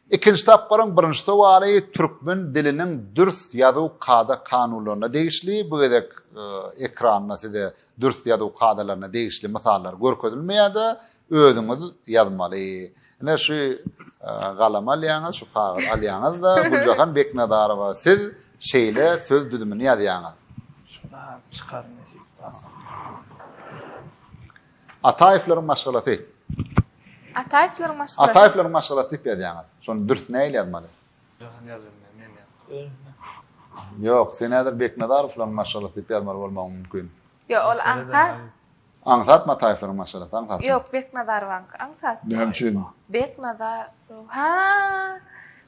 Ikinji tapgyryň birinji sowaly türkmen diliniň dürs ýazuw kada-kanunlaryna degişli. Bu gezek ekranda size dürs ýazuw kadalaryna degişli mysallar görkezilmeýär-de, özüňiz ýazmaly. Ine şu galam alýaňyz, şu kagyz alýaňyz-da, Güljahan Beknazarowa siz şeýle söz düzümini ýazýaňyz. Şuna çykaryn. Ataýewleriň maşgalasy. Ataýewleriň maşgalasy. Ataýewleriň maşgalasy diýip ýazýaňyz. Şony dürs nähili ýazmaly? Jahan ýazylmaz. Ýok, sen häzir Beknazarowlaryň maşgalasy diýip ýazmaly bolmagyň mümkin. Ýok, ol aňsat. Aňsat Mataýewleriň maşgalasy, aňsat. Ýok, Beknazarowaňky aňsat. Näme üçin? Beknazarow. Ha!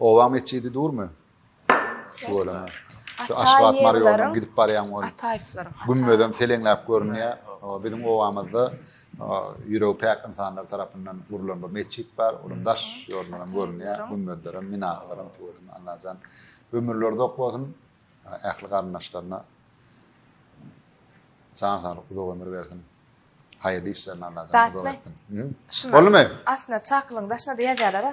Oba metjidi durmy? Tüweleme. Şu Aşgabat Marýonuň gidip barýan ol gümmezem seleňläp görünýär. Biziň obamyzda ýüregi päk ynsanlar tarapyndan gurlan bir metjit bar. Onuň daş ýolundan görünýär. Gümmezler hem, minaralar hem tüweleme. Allajan ömürleri uzak bolsun. Ähli garyndaşlaryna jan saglyk, uzak ömür bersin. Haýyrly işlerini Allah janyňyzy uzak etsin. Boldumy? Aslynda çakylygyň daşyna-da ýazýarlar-a.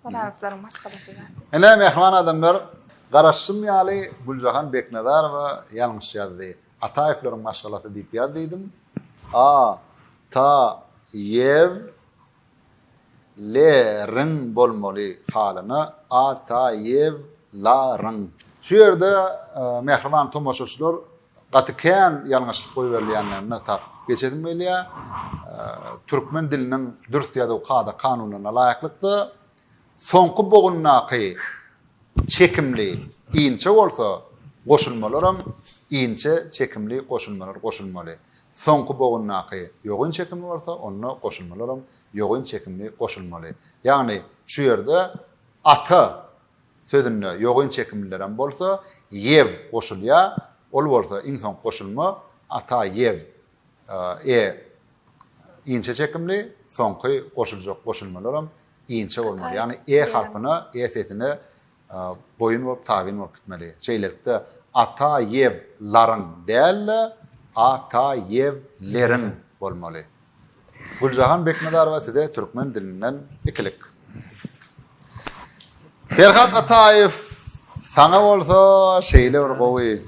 Ol haryplaryň maşgalasy zat. Ine, mähriban adamlar, garaşym ýaly Güljahan Beknazarowa ýalňyş ýazdy. Ataýewleriň maşgalasy diýip ýaz diýdim. A-ta-ýew Le ryň bolmaly halyna a ta ýew la ryň. Şu ýerde mähriban tomaşaçylar gaty kän ýalňyşlyk goýberilýändigini tap geçesim gelýä. Türkmen diliniň dürs ýazuw kada kanunlaryna laýyklykda soňky bogundaky çekimli inçe bolsa goşulmalaram inçe çekimli goşulmalar goşulmaly. Soňky bogundaky ýogyn çekimi bolsa onda goşulmalaram ýogyn çekimli goşulmaly. Ýagny şu ýerde ata sözünde ýogyn çekimlilerem bolsa ýew goşulýar, ol bolsa iň soňky goşulma ata ýew, e inçe çekimli, soňky goşuljak goşulmalaram inçe bolmaly. Ýagny e harpyna, e sesine Boýun bolup tabyn bolup gitmeli. Şeýlelikde, Ata ýew laryň däl-de, A ta ýew leriň bolmaly. Güljahan Beknazarowa size türkmen dilinden ikilik. Perhat Ataýew saňa bolsa şeýle bir gowy.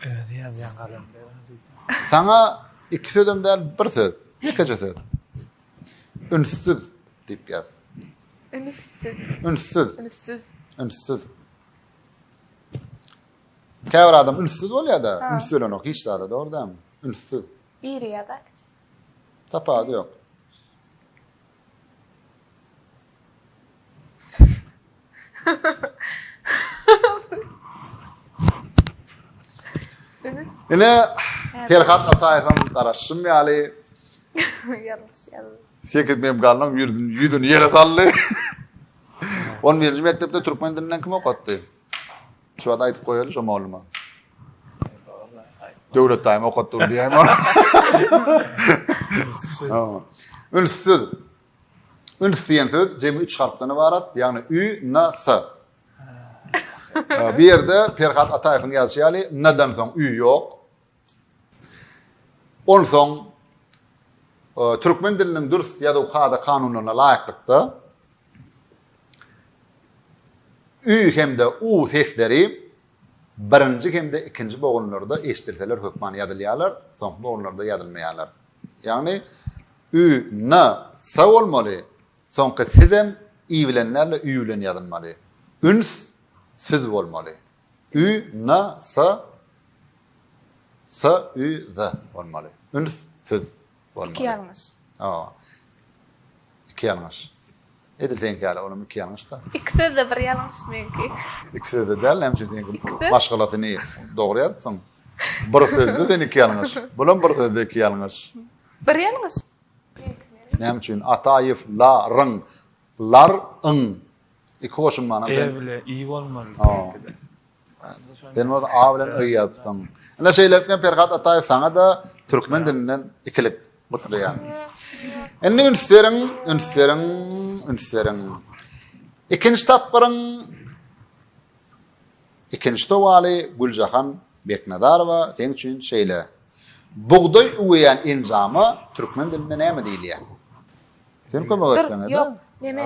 Özi ýazýan galamda diýip. Saňa iki sözem däl, bir söz. Ýekeje söz. Ünssüz. Diýip ýaz. Ünüssiz. Ünssüz. Ünüssiz. Ünssüz. Käbir adam ünssüz bolýar-da, üns berenok hiç zada, dogry dämi? Ünssüz. Iri ýa-da kiçi. Tapawudy ýok. Ine Perhat Ataýewiň garaşym ýaly. Ýalňyş ýaly. Sekiz memgalnyň ýüzüni ýüzüni ýere saldy. 11-nji mekdepde türkmen dilinden kim okatdy? Şu wagt aýdyp goýaly şo mugalluma. Döwlet daýym okatdy dur diýäýme. Ünssüz. Üns diýen söz jemi 3 harpdan ibarat, ýagny ü, n, s. Bu ýerde Perhat Ataýewiň ýazyşy ýaly n-dan soň ü ýok. Onsoň türkmen diliniň dürs ýazuw kada-kanunlaryna laýyklykda ü hem-de u sesleri birinji hem-de ikinji bogunlarda eşidilseler hökman ýazylýarlar, soňky bogunlarda ýazylmaýarlar. Ýagny ü, n, s bolmaly, soňky siz hem i bilen däl-de ü bilen ýazylmaly. Üns, süz bolmaly. Ü, n, s, Sa, ü, za bolmaly. Üns, süz bolmaly. Iki ýalňyş. Hawa. Iki ýalňyş. Edil seňki ýaly, olam iki ýalňyş-da. Iki sözde bir ýalňyş meňki. Iki sözde däl, näme üçin seňki Iki söz. maşgalasyny dogry ýazypsyň. Bir sözde sen iki ýalňyş. Bulam bir sözde iki ýalňyş. Bir ýalňyş. Meňki nirä? Näme üçin? Ataýew, la, ryň, lar, yň. Iki goşulmanam E sen. bile i bolmaly Hawa. seňkide. Sen bolsa A bilen Y ýazypsyň. Ine şeýlelikde hem Perhat Ataýew saňa-da türkmen dilinden ikilik gutlaýan. Indi üns beriň, üns beriň, üns beriň. Ikinji tapgyryň ikinji sowaly Güljahan Beknazarowa seň üçin şeýle. Bugdaý üweýän enjama türkmen dilinde näme diýilýär? Sen kömek etseňe-de. Ýok, neme?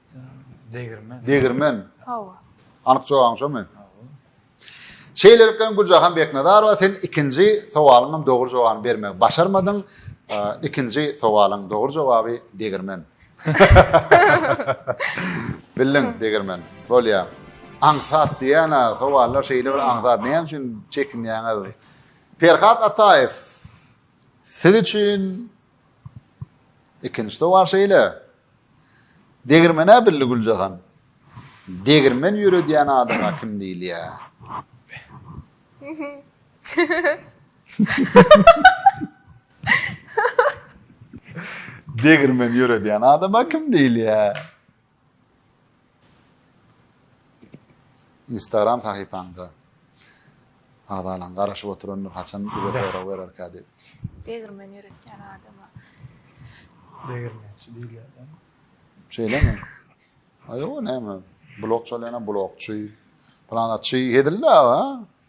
Degirmen. Degirmen. Hawa. Anyk jogabyň şomy? Şeýlelikde Güljahan Beknazarowa sen ikinji sowalyňam dogry jogabyny bermegi başarmadyň. Ikinji sowalyň dogry jogaby degirmen. Bildiň degirmen. Bolýa. Aňsat diýen sowallar şeýle bir aňsat. Näme üçin çekinýäňiz? Perhat Ataýew. Siz üçin Ikinji sowal şeýle. Degirmen-ä bildi Güljahan. Degirmen ýöredýän adama kim diýilýär? Degirmen ýöredýän adama kim diýilýär? Instagram sahypaňda agzalan garaşyp oturandyr haçan bize sorag bererkä diýip. Degirmen ýöretýän adama. Degirmençi diýilýär. Şeýlemi? Aýo näme? Blok çalýana blokçy. Planaçy hezil-la.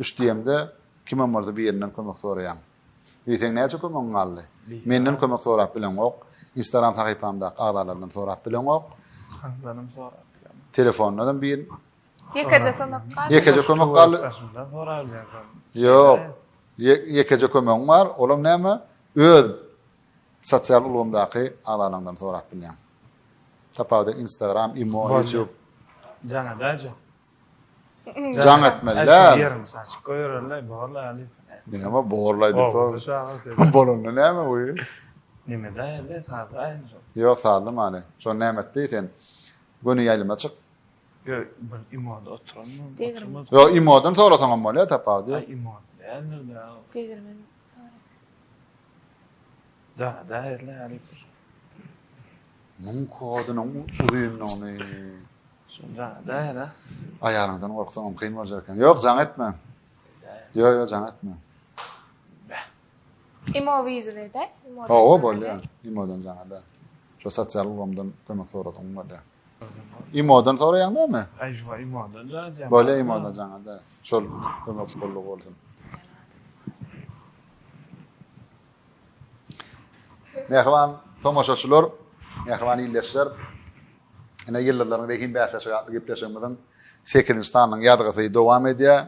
Üç diýemde, kimem bolsa birinden kömek soraýaň. Ýöne seň näçe kömegiň galdy? Menden kömek sorap bileňok, Instagram sahypamdaky agzalardan sorap bileňok. Handanam sorap bileňok. Telefondanam bir Ýekeje kömek galdy. Ýekeje kömek galdy. Başymdan sorap bilersiň. Ýok. Ýekeje kömegiň bar, olam näme? Öz sosial ulgamdaky agzalaňdan sorap bilýäň. Tapawudy Instagram, Imo, YouTube. Jana daýja. Jaň etmeli däl. Näme borlaý diýip. Bolanda näme bu? Näme daýaly sazlaý. Ýok sazlamaly. Şo näme etdi sen? Göni ýaýlyma çyk. Ýok, bir imoda oturan. Ýok, imodan sorasaň hem bolýar tapawut ýok. Imod däldir dä. Tegirmen. Da, daýaly. Muň kodunyň uzynlygyny. Şonda nähera? Aýalyňdan gorksaňam kyn boljak eken. Ýok, jaň etme. Ýok, ýok, jaň etme. Imo wizede? Hawa, bolýar. Imodan jaň eder. Şu sosial ulgamdan kömek soradyň bolýar. Imodan soraýaň näme? Aý, şu imodan jaň eder. Bolýar, imodan jaň eder. Şol kömek boldy bolsun. Mähriban tomaşaçylar, mähriban ildeşler, ine ýyldyzlaryň zehin bäsleşigi atly gepleşigimiziň sekizinji sanynyň ýazgysy dowam edýär.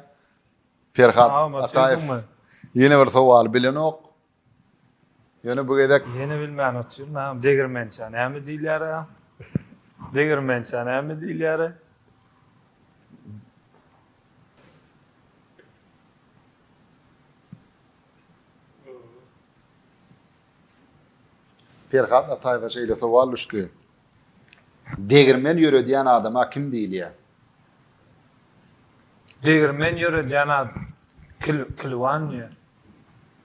Perhat Ataýew ýene bir sowaly bilenok. Ýöne bu gezek ýene bilmän otyryn, ha degirmençä näme diýilýär? Degirmençä näme diýilýär? Perhat Ataýewa şeýle sowal düşdi. Degirmen ýöredýän adama kim diýilýär? Degirmen ýöredýän adam kil kilwan diýýär.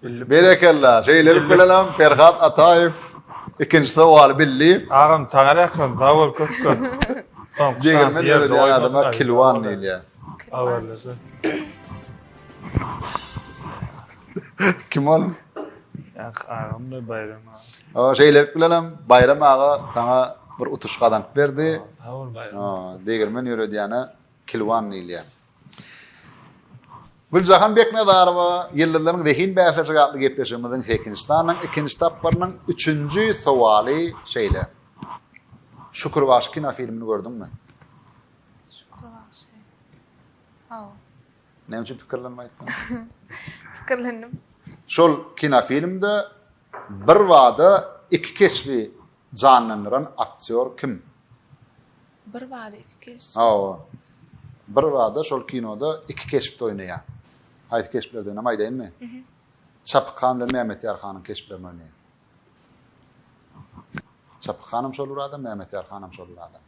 Bildik. Berekella. Şeýlelik bilen hem Perhat Ataýew ikinji sowaly bildi. Agam tagala ýaklan zawol köp köp. Soň Degirmen ýöredýän adama kilwan diýilýär. Habarlaşa. Kim ol? Ak agam da Bayram aga. O şeylelik bilen hem Bayram aga sana bir utuş kazanyp berdi. Ha ol Bayram. Degirmen ýöredýäne Kilwan diýilýär. Güljahan Beknazarowa Ýyldyzlaryň zehin bäsleşigi atly gepleşigimiziň sekinji sanynyň ikinji tapgyrynyň üçünji sowaly şeýle. Şükür Waşy kinofilmini gördüňmi? Şükür Waşy. Hawa. Näme üçin pikirlenme aýtdyň? Pikirlendim. Şol kinofilmde bir wada iki keşbi janlandyran aktýor kim? Bir wada iki keşbi. Hawa. Bir wada şol kinoda iki keşpde oýnaýar. Haýsy keşplerde oýnam aýdaýynmy? Mhm. Çapyk han bilen Mehmet Ýar hanyň keşplerini oýnaýar. Çapyk hanam şol bir adam, Mehmet Ýar hanam şol bir adam.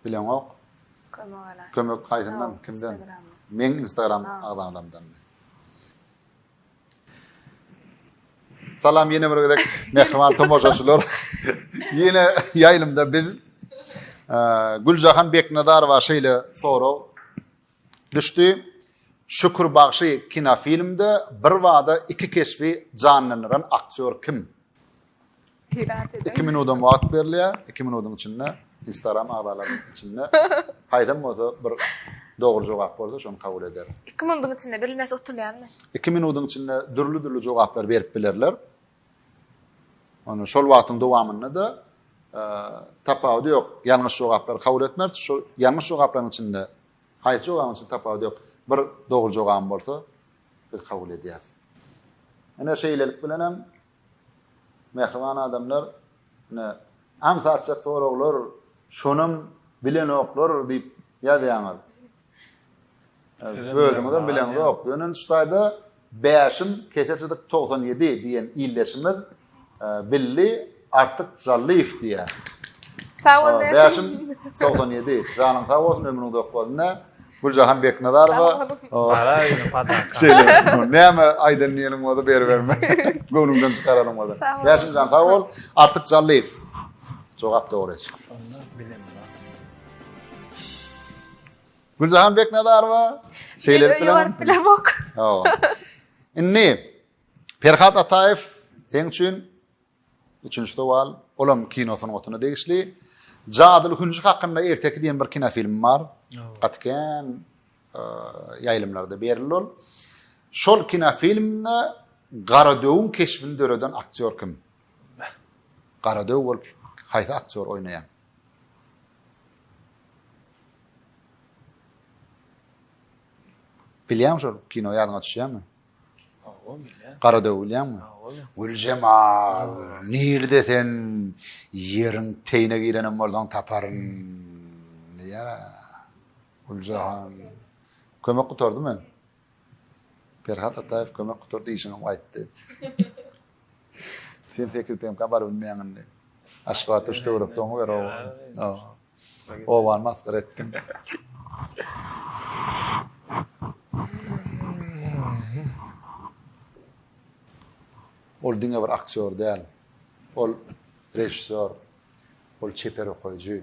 Bileňok. Kömek alan. Kömek haýsyndan, kimden? Meň Instagram agzalarimden. Salam ýene bir gezek mähriban tomaşaçylar. Ýene ýaýlymda biz Güljahan Beknazarowa şeýle sorag Düşdi. Şükür bagşy kinofilmde birbada iki keşbi janlandyran aktýor kim? Pirat edin. Iki minudam wagt berilýär. Iki minudyň içinde Instagram agzalarynyň içinde haýsam bolsa bir dogry jogap bolsa şony kabul ederim. Iki minudyň içinde bilmesi utulýanmy? Iki minudyň içinde dürli-dürli jogaplar berip bilerler. Onda şol wagtyň dowamynda-da tapawudy ýok. Ýalňyş jogaplary kabul etmez. Şu ýalňyş jogaplaryň içinde haýsy jogabyň içinde tapawudy ýok. Bir dogry jogabym bolsa, biz kabul edýäris. Ine şeýlelik bilen hem mähriban adamlar ine aňsatjak soraglar, şonam bilenoklar diýip ýazýaňyz. Özüňizem bileňiz ok. Ýöne şu taýda bäşim keseçidik 97 diýen illeşimiz billi artyk Jallyýew diýýär. Sag bol bäşim. 97. Janyň sag bolsun, ömrüň uzak bolsun. Güljahan Beknazarowa. Bara ýene fadan. Şeýle. Näme aýdan diýenim bolsa ber berme. Göwnüňden çykaranym bolsa. Bäşim jan sag bol. Artyk Jallyýew. Jogap dogry. Şonda bilemedim. Güljahan Beknazarowa şeýlelik bilen bilemok. Hawa. Indi Perhat Ataýew seň üçin üçünji sowal, olam kino sungatyna degişli. Jadyly hünji hakynda erteki diýen bir kino filmi bar. Gaty kän e, ýaýlymlarda berildi ol. Şol kino filminde Garadöwüň keşbini döreden aktýor kim? Garadöw bolup haýsy aktýor oýnaýar? Bilýäňmi şol kino ýadyňa düşýärmi? Hawa bilýän. Gara döw bilýäňmi? Hawa. Güljemal, nirde sen? Ýeriň teýine girenem bolsaň taparyn. Diýýär. Güljahan. Kömek gutardy men. Perhat Ataýew kömek gutar diýşiňem gaýtdy. Sen sekiz PMK bar bilmeýäň indi. Aşgabatda üç töwerek doňy ber oba. Obany masgara etdiň. Ol diňe bir aktýor däl. Ol režissýor. Ol çeper okaýjy.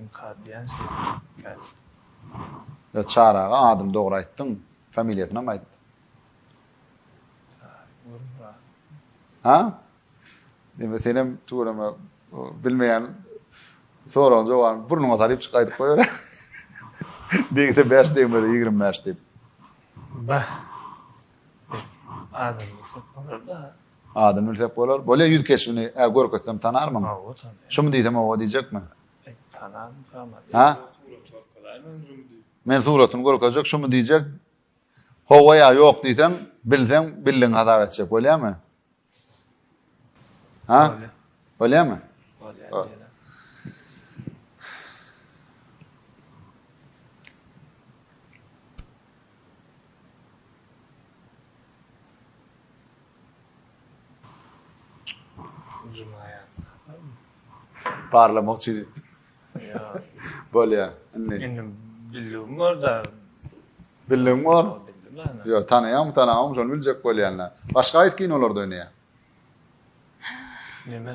Inkar diýen şeýle hekaýat. Ýa Çary aga adyny dogry aýtdyň, familiýasynam aýt. Ha? Deme senem tuweleme bilmeýän soragyň jogabyny burnuňa salyp çyk aýdyp goýar. Degse 5 degmese 25 diýip. Bah. Adam bolsa da. Adyny bilsek bolar. Bolýa ýüz keşbini ä görkezsem tanarmyň? Hawa tanaryn. Şumy diýsem hawa diýjekmi? Tanaryn tamam. Hä? Men suratyny görkezjek şumy diýjek. Hawa ýa ýok diýsem, bilseň bildigiňi hasap etjek bolýamy? Hä? Bolýamy? Bolýar. Parlamak üçin etdi. Bolýar. Indi. Indi bildim orada. Bildim bar. Yo, tanayam, tanamam, şonu biljek bolýanlar. Başga aýt kinolarda oýnaýar. Neme?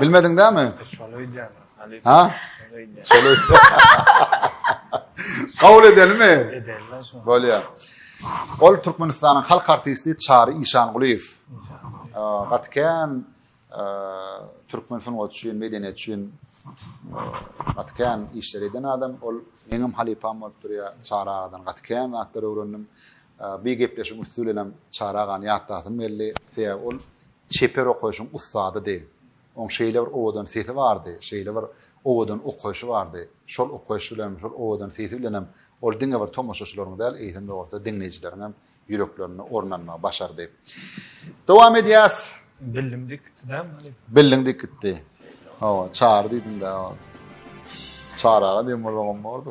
Bilmediň dämi? Şony öýdýän. Ha? Şony öýdýän. Şony öýdýän. Kabul edelimi? Edelimi şony. Bolýar. Ol Türkmenistanyň halk artisti Çary Işangulyýew. Gaty kän türkmen sungaty üçin, medeniýet üçin gaty kän işler eden adam. Ol meňem halypam bolup durýar. Çary agadan gaty kän zatlar öwrendim. Bu gepleşigiň üsti bilenem Çary agany ýatlasym geldi. Sebäbi ol çeper okaýşyň ussadydy. Oň şeýle bir owadan sesi bardy, şeýle bir owadan okaýşy bardy. Şol okaýşy bilenem, şol owadan sesi bilenem ol diňe bir tomaşaçylaryň däl, eýsem-de bolsa diňleýjileriň hem ýüreklerinde orun almagy başardy. Dowam edýäs. Billiň dik gitdi dämi halypa? Billiň dik gitdi. Hawa, Çary diýdim-dä. Çary aga diýen bolsagam bordy.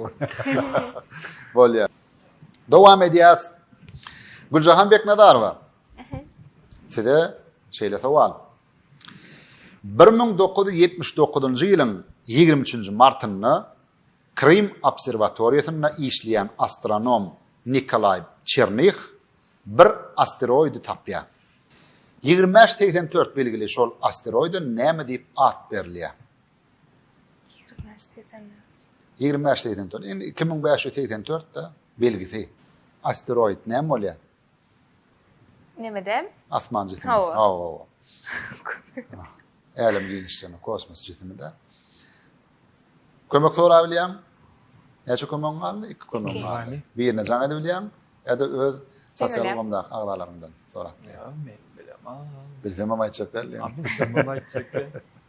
Bolýar. Dowam edýäs. Güljahan Beknazarowa. Size şeýle sowal. 1979-njy ýylyň 23-nji martynda Krym obserwatoriýasynda işleýän astronom Nikolaý Çernih bir asteroidi tapýar. Ýigrimi bäş segsen dört belgili şol asteroide näme diýip at berilýär? Ýigrimi bäş segsen dört. Indi iki müň bäş ýüz segsen dört-de belgisi. Asteroid näme bolýar? Näme däl? Asman jisimi. Hawa. Hawa. Älem giňişligini, kosmos jisimi-de. Kömek sorap bilýän? Näçe kömegiň galdy? Iki kömegiň galdy. Birine jaň edip bilýän? Ýa-da öz sosial ulgamdaky agzalaryňdan sorap bilýän? Bilsem hem aýtjak däl. Bilsem hem aýtjak däl.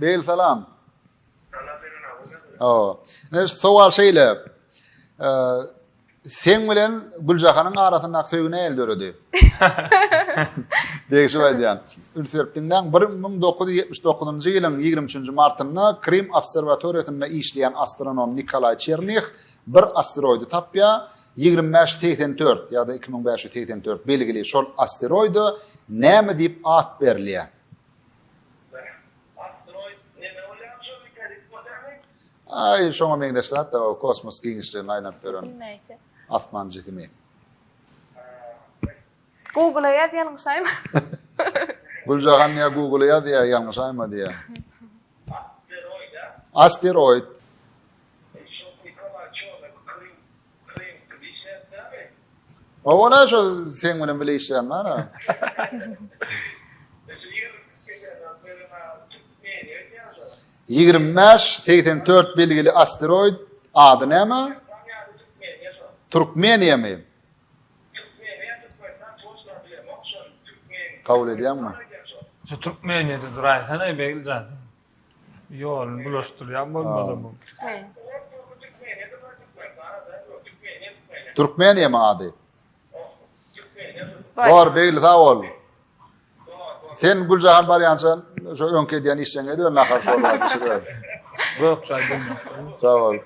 Bel salam. Salam beren agam. Awa. Ne sowal şeýle. Sen bilen Güljahanyň arasynda söýgi näl döredi? Degişip aýdýan. Ülferp diňläň 1979-njy ýylyň 23-nji martynda Krim obserwatoriýasynda işleýän astronom Nikolaý Çernih bir asteroidi tapýar. 2584 ýa-da 2584 belgili şol asteroide näme diýip at berilýär? Aý, şoňa meňzeş zat-da o kosmos giňişliginde aýlanyp ýören asman jisimi. Google-a ýaz, ýalňyşaýma. Güljahan ýa Google-a ýaz, ýa ýalňyşaýma diýýär. Asteroid. Asteroid. Owana şu sen bilen bile işleýän bana. Ýigrimi bäş, segsen dört belgili asteroid ady näme? Türkmeniýa mi? Kabul edýäňmi? Şu Türkmeniýede duraýsana, Begiljan. Ýoluny bulaşdyrýan bolmaly bu. Türkmeniyemi ady? Bor, Begli sag bol. Sen Güljahan barýança şu öňki edýän işleň edip nahar şorba bişirip. Gök çaý bilmekdir. Sag bol.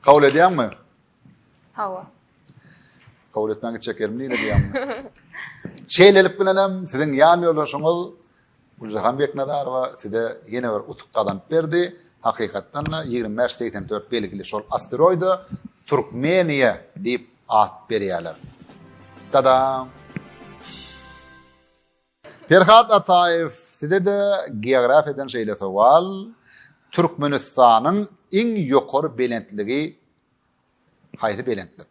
Kabul edýäňmi? Hawa. Kabul etmän gitjek ýerim nirede diýýän. Şeýlelik bilen hem siziň ýan ýoldaşyňyz Güljahan Beknazarowa size ýene bir utuk gazanyp berdi. Hakykatdan da 2584 belgili şol asteroida Türkmeniýa diýip at berýärler. Tadam! Perhat Ataýew, Size-de geografiýadan şeýle sowal, Türkmenistanyň iň ýokary belentligi haýsy belentlik?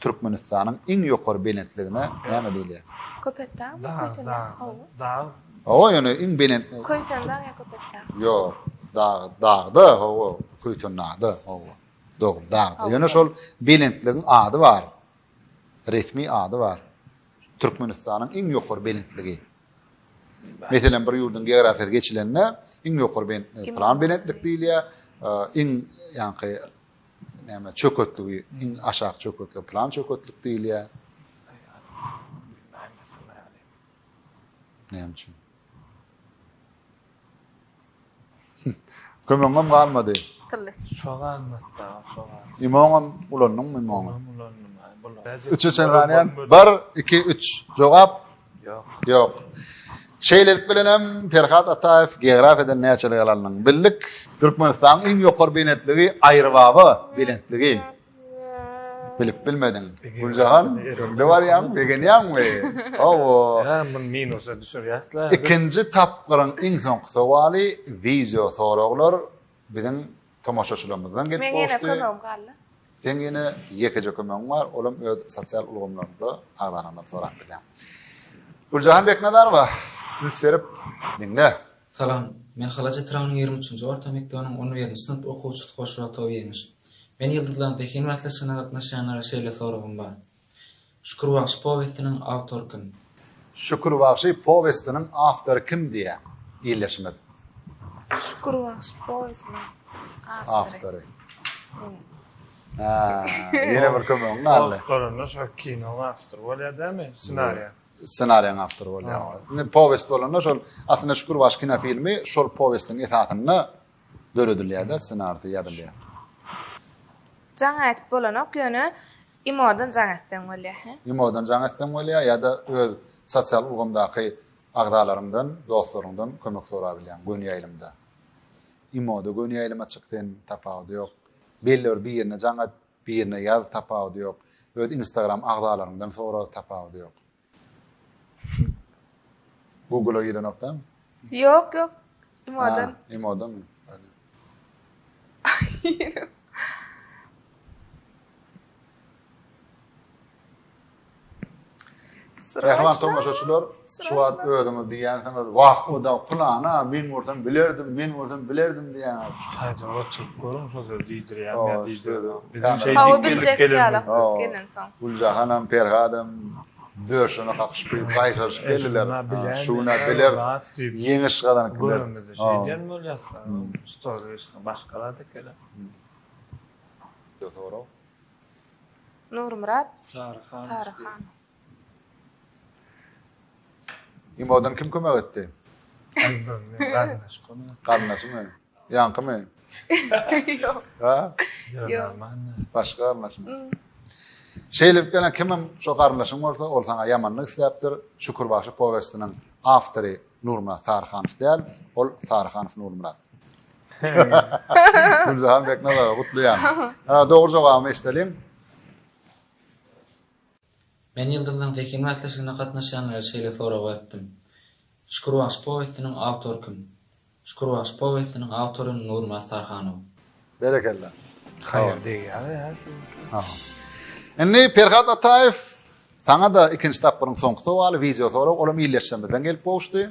Türkmenistanyň iň ýokary belentligine näme diýilýär? Köpetdag, Köýtendag, hawa. Dag. Hawa, ýöne iň belent. Köýtendag ýa Köpetdag? Ýok, dag, dagda, hawa, Köýtendagda, hawa. Dogry, dagda. Ýöne şol belentligiň ady bar. Resmi ady bar. Türkmenistanyň iň ýokary belentligi. Meselem, bir ýurduň geografiýasy geçilende, iň ýokary belentligi plan belentlik diýilýär, iň ýaňky näme çöketligi, iň aşak çöketligi plan çöketlik diýilýär. Näme üçin? Kömegiňem galmady. Tylly. Şo galmady-da, şo galmady. Imoňam ulandyňmy imoňy? Oňam ulandym, aý, bular. Üçe çen galaýan. Bir, iki, üç. Jogap? Ýok. Ýok. Şeýlelik bilen hem Perhat Ataýew geografiýadan näçelik ýaly alnyň? Bildik. Türkmenistanyň iň ýokary benetligi Aýrybaba belentligi. Bilip bilmediň. Güljahan, öňde barýaň, begenýäňmi? Hawa. Ýa, men minusa düşürýäs-le. Ikinji tapgyryň iň soňky sowaly wideo soraglar biziň tomaşaçylarymyzdan gelip gowuşdy. Meň ýene kömegim galdy. Seň ýene ýekeje kömegiň bar, olam öz sosial ulgamlarymyzda agzalaryňdan sorap bilýäň. Güljahan Beknazarowa, üns berip diňle. Salam. Men Halaja Tragynyň ýigrimi üçünji orta mekdebiniň on birinji synp okuwçysy Hoşwagtow Ýeňiş. Men Ýyldyzlaryň zehin bäsleşigine gatnaşýanlara şeýle soragym bar. Şükür bagşy powestiniň awtory kim? Şükür bagşy powestiniň awtory kim diýýän ildeşimiz. Şükür bagşy powestiniň awtory. Ýene bir kömegiň galdy. Awtorynda şol kinoň awtory bolýar dämi, ssenariýa? ssenariýaň awtory bolýar. Indi powest bolanda şol aslynda Şükür baş kinofilmi şol powestiň esasynda döredilýär-de, ssenarisi ýazylýar. Jaň aýdyp bolanok, ýöne imodan jaň etseň bolýar, he? Imodan jaň etseň bolýar ýa-da öz sosial ulgamdaky agzalaryňdan, dostlaryňdan kömek sorap bilýäň göni ýaýlymda. Imoda göni ýaýlyma çyk sen, tapawudy ýok. Belli bir birine jaň et, Birine ýaz tapawudy ýok. Öz instagram agzalaryňdan sora tapawudy ýok. Google-a girenok däl mi? Ýok ýok. Imodan. Imodan. Girip. Mähriban tomaşaçylar, şu wagt özüňiz diýýänsiňiz, wah, o-da pylana, men bolsam bilerdim, men bolsam bilerdim diýýäňiz. Şu taýdan gaçyryp görüň, şol sözi diýdirýärmi ýa diýdirýärmi? Biziň şeýdip geldik. Hawa, biljek ýalak bolup gelen soň. Güljahanam, Perhadam döşüne kakyşyp gelip, gaýtaryşyp geldiler. Şu gün-ä bileris, ýeňiş gazanyp gideris. Göremizde şeýdýän bolýas, stol-reşiň başga zat ekeni. Sorag. Nurmyrat Saryhanow. Imodan kim kömek etdi? Garyndaşymy? Ýaňkymy? Ýok. Ha? Ýok. Başga garyndaşmy? Şeýlip gelen kimem şo garyndaşyň bolsa, ol saňa ýamanlyk isläpdir. Şükür bagşy powestiniň awtory Nurmyrat Saryhanow däl, ol Saryhanow Nurmyrat. Güljahan Beknazarowa gutlaýan. Ha, dogry jogabyny eşideliň. Men Ýyldyzlaryň zehin bäsleşigine gatnaşýanlara şeýle sorag beripdim. Şükür bagşy powestiniň awtory kim? Şükür bagşy powestiniň awtory Nurmyrat Tarhanow. Berekella. Haýyr degýär ýa siziňki. Ha. Indi Perhat Ataýew saňa-da ikinji tapgyryň soňky sowaly, wideo sorag, olam ildeşlerimizden gelip gowuşdy.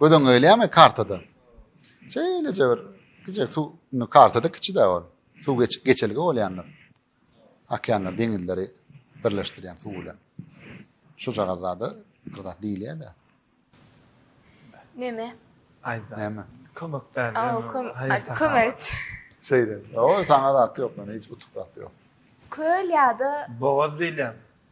Göz öňüňe gelýärmi kartada? Şeýleje bir kiçijek suw, indi kartada kiçi-de ol. Suw geçip geçelge bolýandyr. Okeanlar, deňizleri birleşdirýän suw bilen. Şu jagazada bir zat diýilýär-de. Neme? Aýda. Neme? Kömekden. Aw, köm, kömek. Şeýle. O, saňa zat ýok, men hiç utuk zat ýok. Köl ýa-da bogaz diýilýär.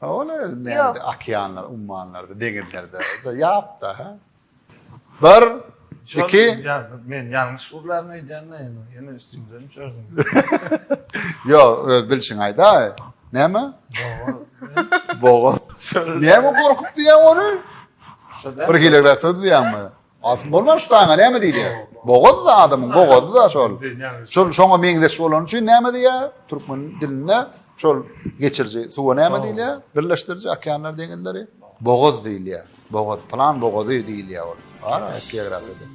Ha ol özi Ýok. okeanlar, ummanlarda, deňizlerde ýapda. Ha. Bir, Şol iki. ýa- Men ýalňyş gürläp aýdýan-da ýene. Ýene üstüňden düşersiň. Ýo, öz bilşiňi aýdaý. Näme? Bogat. Bogat. Näme gorkup diýýäň ony? Şo-da. Bir hilegräk söz diýýäňmi? Altyn bolman şu daňa näme diýdi? Bogaz da adamyň bogazy da şol. Şol şoňa meňzeş bolany üçin näme diýä? Türkmen dilinde şol geçirji suwa näme diýilýä? Birleşdiriji okeanlar deňizleri bogaz diýilýä. Bogaz plan bogazy diýilýä ol. Ara geografiýada.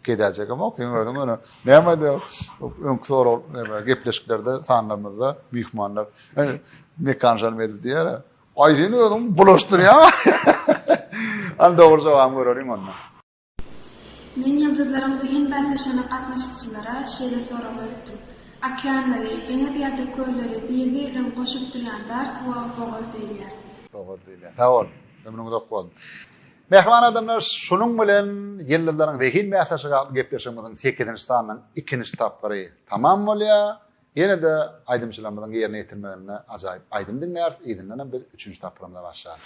Gedäjek hem ok, sen özüň öňe. Näme de öňki soraw näme gepleşiklerde sanlarymyzda myhmanlar. Hani mekan jan edip diýär. Ay sen özün bulaştır ya. Al doğru cevabı görelim onda. Men yıldızların zehin bäsleşene gatnaşyjylara şeýle sorag beripdim. Okeanlary, deňiz ýa-da kölleri bir-biri bilen goşup durýan dar suwa bogaz diýilýär. Bogaz diýilýär. Sag bol. Ömrüň uzak bolsun. Mähriban adamlar, şunuň bilen Ýyldyzlaryň zehin bäsleşigi atly gepleşigimiziň 8-nji sanynyň ikinji tapgyry tamam bolýar. Ýene-de aýdymçylarymyzyň ýerine ýetirmeginde ajaýyp aýdym diňläris, yzyndan hem biz üçünji tapgyrymyza başlarys.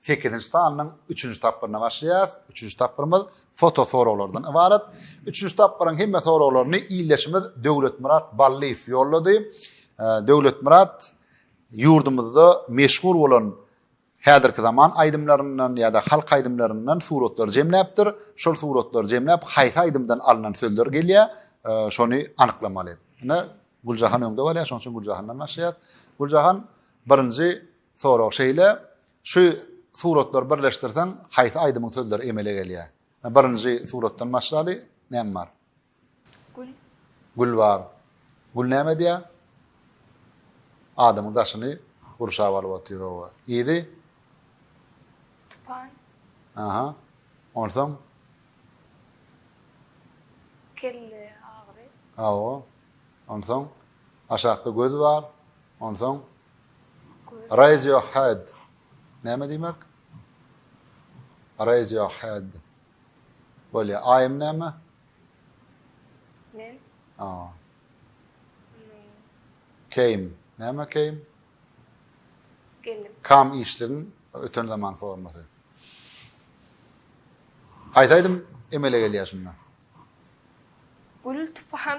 Sekizinji sanynyň üçünji tapgyryna başlaýarys. Üçünji tapgyrymyz foto soraglardan ybarat. Üçünji tapgyryň hemme soraglaryny ildeşimiz Döwletmyrat Ballyýew ýollady. Döwletmyrat ýurdumyzda meşhur bolan häzirki zaman aýdymlaryndan ýa-da halk aýdymlaryndan suratlar jemläpdir. Şol suratlary jemläp, haýsy aýdymdan alnan sözler gelýär, şony anyklamaly. Ine, Güljahan öňde bolýar, şonuň üçin Güljahandan başlaýarys. Güljahan, Birinji sorag şeýle, şu suratlary birleşdirseň haýsy aýdymyň sözleri emele gelýär? Birinji suratdan başlaly, näme bar? Gül. Gül bar. Gül näme edýär? Adamyň daşyny gurşap alyp otyr oba. Yzy? Tupan. Aha. Onsoň? Kelle agyry. Hawa. Onsoň aşakda göz bar. Onsoň Raise your head näme diýmek? Raise your head. Bolýa. Aýym näme? Men. A. Came. Näme came? Gelip. Kam işligiň öten zaman formasy. Aýtaýdym emele gelýär şunda. Gül tupan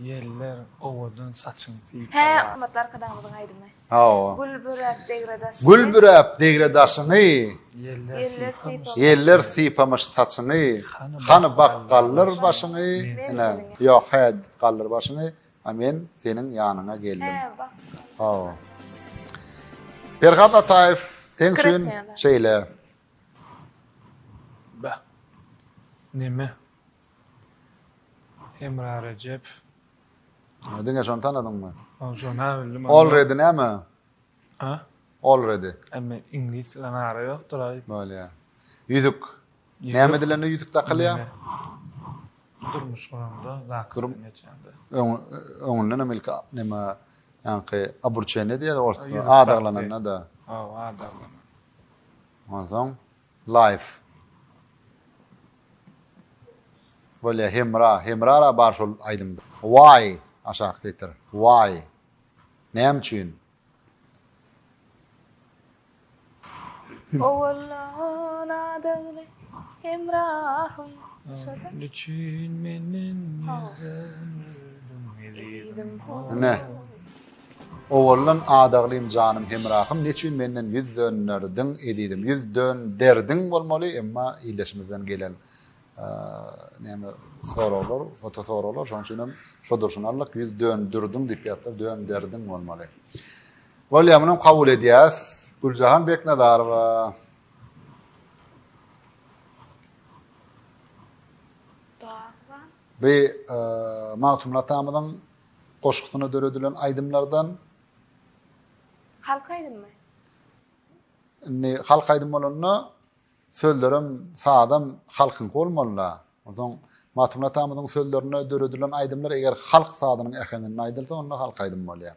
Ýeller owadan saçyň sypala. Hä hormatly arkadagymyzyň aýdymy. Hawa. Gül büräp degre daşyňy. Gül büräp degre daşyňy. Ýeller sypamyş saçyňy. Hany bak galdyr başyňy. Ine ýok hä galdyr başyňy. A men seniň ýanyňa geldim. Hä bak galdyr başyňy. Perhat Ataýew seň üçin şeýle. Bä. Neme Hemra Rejep. Ha diňe şony tanadyňmy? Ol şony ha bildim. Already näme? Ha? Already. Emme iňlis bilen ara ýokdur aý. Bolýa. Ýüzük. Näme dilende ýüzük dakylýar? Durmuş guranda lakdan geçende. Öň öňünden hem ilki näme ýaňky aburçeniýe diýýär orta adaglananda da. Ha, adaglanan. Onsoň Life. Bolýa Hemra, Hemrara bar şol aýdymda. Why, aşaky setir. Why. Näme üçin? Owalan adagly Hemrahym. Şoda. Niçin menden ýüz döndiň ezizim. Ine. Owaldan Adaglym janym hemrahym neçün menden ýüz dönderdiň ezizim ýüz dön derdiň bolmaly emma illeşimizden gelen näme soraglar foto soraglar şoň üçinem şo durşuna aldyk ýüz dön dürdiň diýip ýatlar dön derdiň bolmaly Bolýa munam kabul edýäs Güljahan Beknazarowa Bi Magtymguly atamyzyň Goşgusyna döredilen aýdymlardan. Halk aýdymmy? Indi halk aýdym bolanda sözlerem, sazam halkyňky bolmaly-da. Onsoň Magtymguly atamyzyň sözlerine döredilen aýdymlar eger halk sazynyň äheňinde aýdylsa, onda halk aýdym bolýar.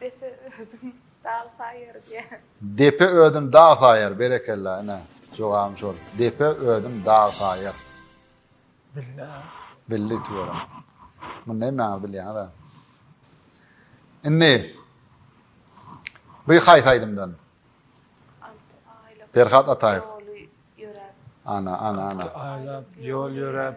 Depe özün dag saýar diýýär. Depe özün dag saýar, berekella, ine, jogabym şol. Depe özün dag saýar. Bildi. Bildi tüweleme. Muny hemmäňiz bilýäňiz-ä. Indi bu haýsy aýdymdan? Perhat Ataýew. Ana, ana, ana. Aýlap ýol ýöräp,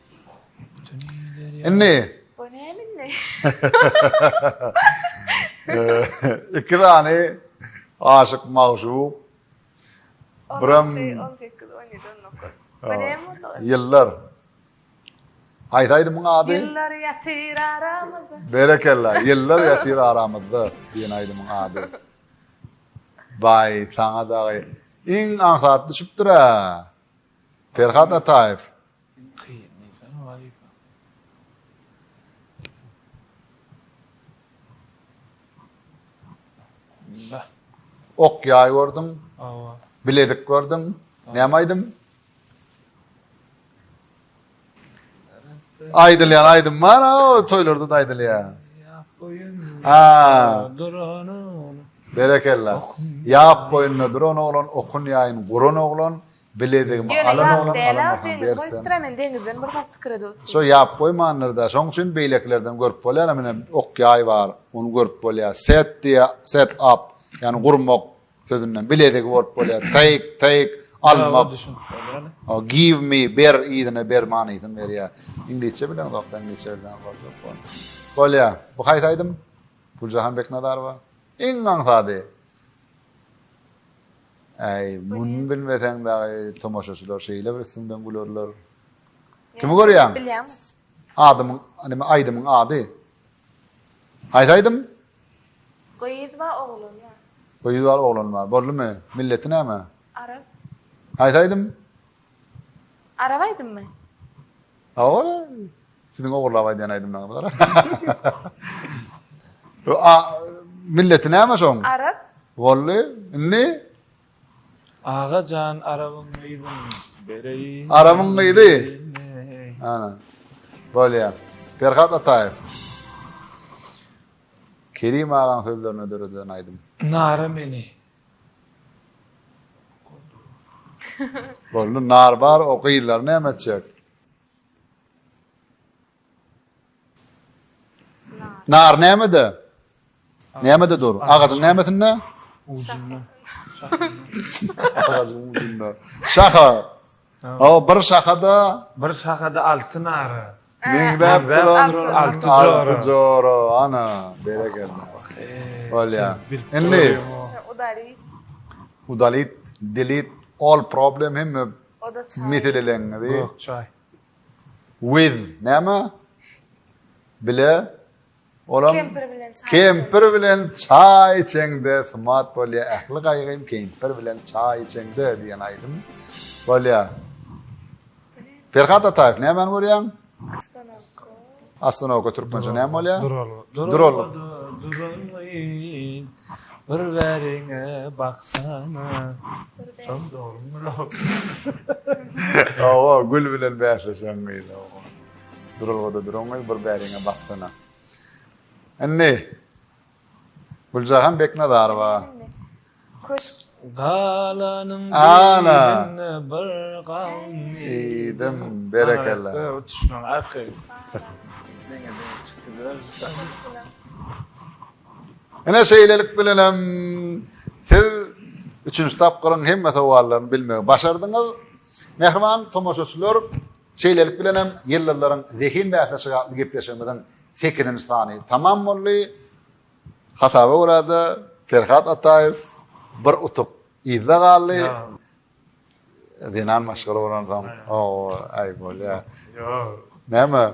Indi. Bu näme indi? Iki tane aşyk magşuk. Biram 18 17 19. Bu näme oldu? Yıllar. Haýsy aýdymyň ady? Yıllar ýatyr aramyzda. Berekella. Yıllar ýatyr aramyzda diýen aýdymyň ady. Bay sana dagy iň aňsat düşüpdir-ä. Perhat Ataýew. Iň kyn diýsene wazipa. Bismillah. Ok ýaý gördüň. Awa. Bilezik gördüň. Näme aýdym? Aýdylýan aýdym bar, o toýlarda da aýdylýar. Ýap boýun. Ha. Duran oglum. Berekella. Ýap boýunda duran oglan, okun ýaýyn guran oglan, Biledigim alan oglan alamasaň bersen. Şo ýap goýmandyr-da. Şoň üçin beýlekilerden görüp bolýar-a menä ok ýaý bar. Ony görüp bolýar. Set diýýä, set up, ýagny gurmak sözünden biledigi bolup bolýar. Take, take, almak. Give me, ber, yzyna ber manysyny berýär. Iňlisçe bileňzok-da, iňlisçe bilseňiz bolajak bu. Bolýar. Bu haýsy aýdym? Güljahan Beknazarowa. Iň aňsady. Äý, muny bilmeseň dagy tomaşaçylar şeýle bir üstüňden gülerler. Kimi görýäň? Bilýäňmi? Adymyň, nime aýdymyň ady? Haýsy aýdym? Gyz bar, oglan bar. Gyz bar, oglan bar. Boldumy? Milleti näme? Arap. Haýsy aýdym? Arap aýdymmy? Awara, siziň ogurlap aýdýan aýdymlaryňyzy gara. A, milleti näme şoň? Arap. Bolly, indi? Aga jan, arabyň gyzyn bereýin. Arabyň gyzy. Ana. Bolýa. Perhat Ataýew. Kerim agaň sözlerine döredilen aýdym. Nara meni. Boldy nar bar o gyzlar näme etjek? Nar nämede? Nämede dur? Agajyň nämesinde? Ucunda. Agajyň ucunda. Şaha. O bir şahada. Bir şahada altyn ara. Meňzäp duran alty jora. Jora, ana, berekella. Bolýa. Indi. Udalit. Udalit, delete, all problem hem meseleleňizi. Gök çay. With, näme? Bile. Olam kempir bilen çaý. Kempir bilen çaý içeňde sumat bolýa. Ähli gaýgym kempir bilen çaý içeňde diýen aýdym bolýa. Perhat Ataýew nämäni görýäň? Astanowka türkmençe näme bolýar? Durol. Bir bäriňe baksana. Şol dogrymy? Owa, gül bilen bäsleşen gyz. Duralgada duraňňy bir bäriňe baksana. Indi Güljahan Beknazarowa. Köşk galanyň birinde bir gawun iýdim. Berekella. Uçuşmaň arky. Ene şeýlelik bilen hem siz üçünji tapgyryň hemme sowallaryny bilmegi başardyňyz. Mähriban tomaşaçylar, Şeýlelik bilen hem Ýyldyzlaryň zehin bäsleşigi atly gepleşigimiziň sekizinji sany tamam boldy. Hasaba görä-de, Perhat Ataýew bir utuk yzda galdy. Zenan maşgala bolansoň, o, aý, bolýar. Näme?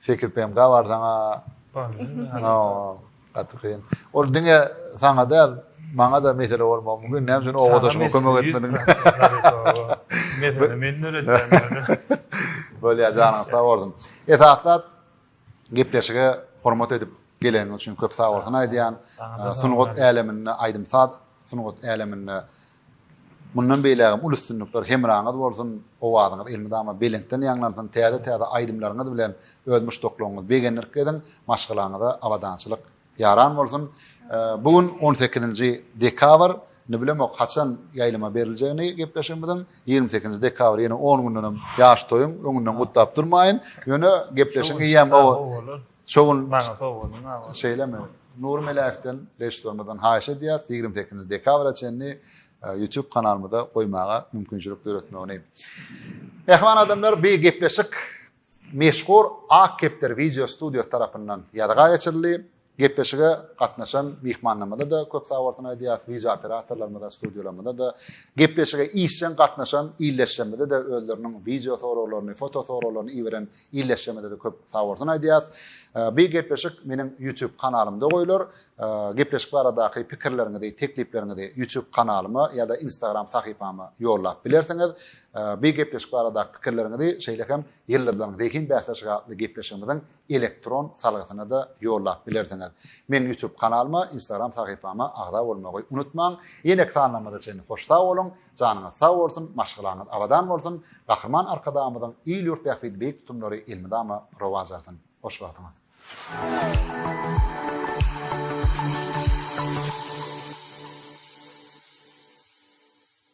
Sekiz PMK bar sana. Bar. Gaty kyn. Ol diňe sana däl, maňa da mesele bolmagy mümkin. Näme üçin owadaşyma kömek etmediň? Mesele men döretýän. Bolýar, janyň sag bolsun. Esasda gepleşige hormat edip geleniň üçin köp sag bolsun aýdýan. Sungat äleminde aýdym-saz sungat äleminde Mundan beýlägem uly üstünlikler hemraňyz bolsun, owazyňyz elmydama belentden ýaňlansyn, täze täze aýdymlaryňyz bilen öz muşdaklaryňyzy begendirip geziň, maşgalaňyza abadançylyk ýaran bolsun. Bu gün on sekizinji dekabr, indi bilemok haçan ýaýlyma beriljegini gepleşigimiziň, ýigrimi sekizinji dekabr ýene on gündenem ýaş toýuň öňünden gutlap durmaýyn, ýöne gepleşigiň eýýäm Şo gün maňa sowgalyň aga. Şeýlemi? Nury Meläýewden režissýorymyzdan haýyş edýäs, ýigrimi sekizinji dekabra çenli e, YouTube kanalymyza goýmaga mümkinçilik döretmegini. Mähriban adamlar, bu gepleşik meşhur Ak kepder wideo studiýasy tarapyndan ýazga geçirildi. Gepleşige gatnaşan myhmanlarymyza da köp sag bolsun aýdýas, wideo operatorlarymyza, studiýalarymyza da, gepleşige işjeň gatnaşan ildeşlerimize de özleriniň wideo soraglaryny, foto soraglaryny iberen Ildeşlerimize-de köp sag bolsun aýdýas. Bir gepleşik meniň YouTube kanalymda goýlar. Gepleşik baradaky pikirleriňizi, teklipleriňizi YouTube kanalyma ýa-da Instagram sahypama ýollap bilersiňiz. Bir gepleşik baradaky pikirleriňizi şeýle hem Ýyldyzlaryň zehin bäsleşigi atly gepleşigimiziň elektron salgysyna-da ýollap bilersiňiz. Meniň YouTube kanalyma, Instagram sahypama agza bolmagy unutmaň. Ýeneki sanlarymyza çenli hoş sag boluň. Janyňyz sag bolsun, maşgalaňyz abadan bolsun, Gahryman Arkadagymyzyň il-ýurt bähbidi beýik tutumlary elmydama rowaç alsyn. Hoş wagtyňyz.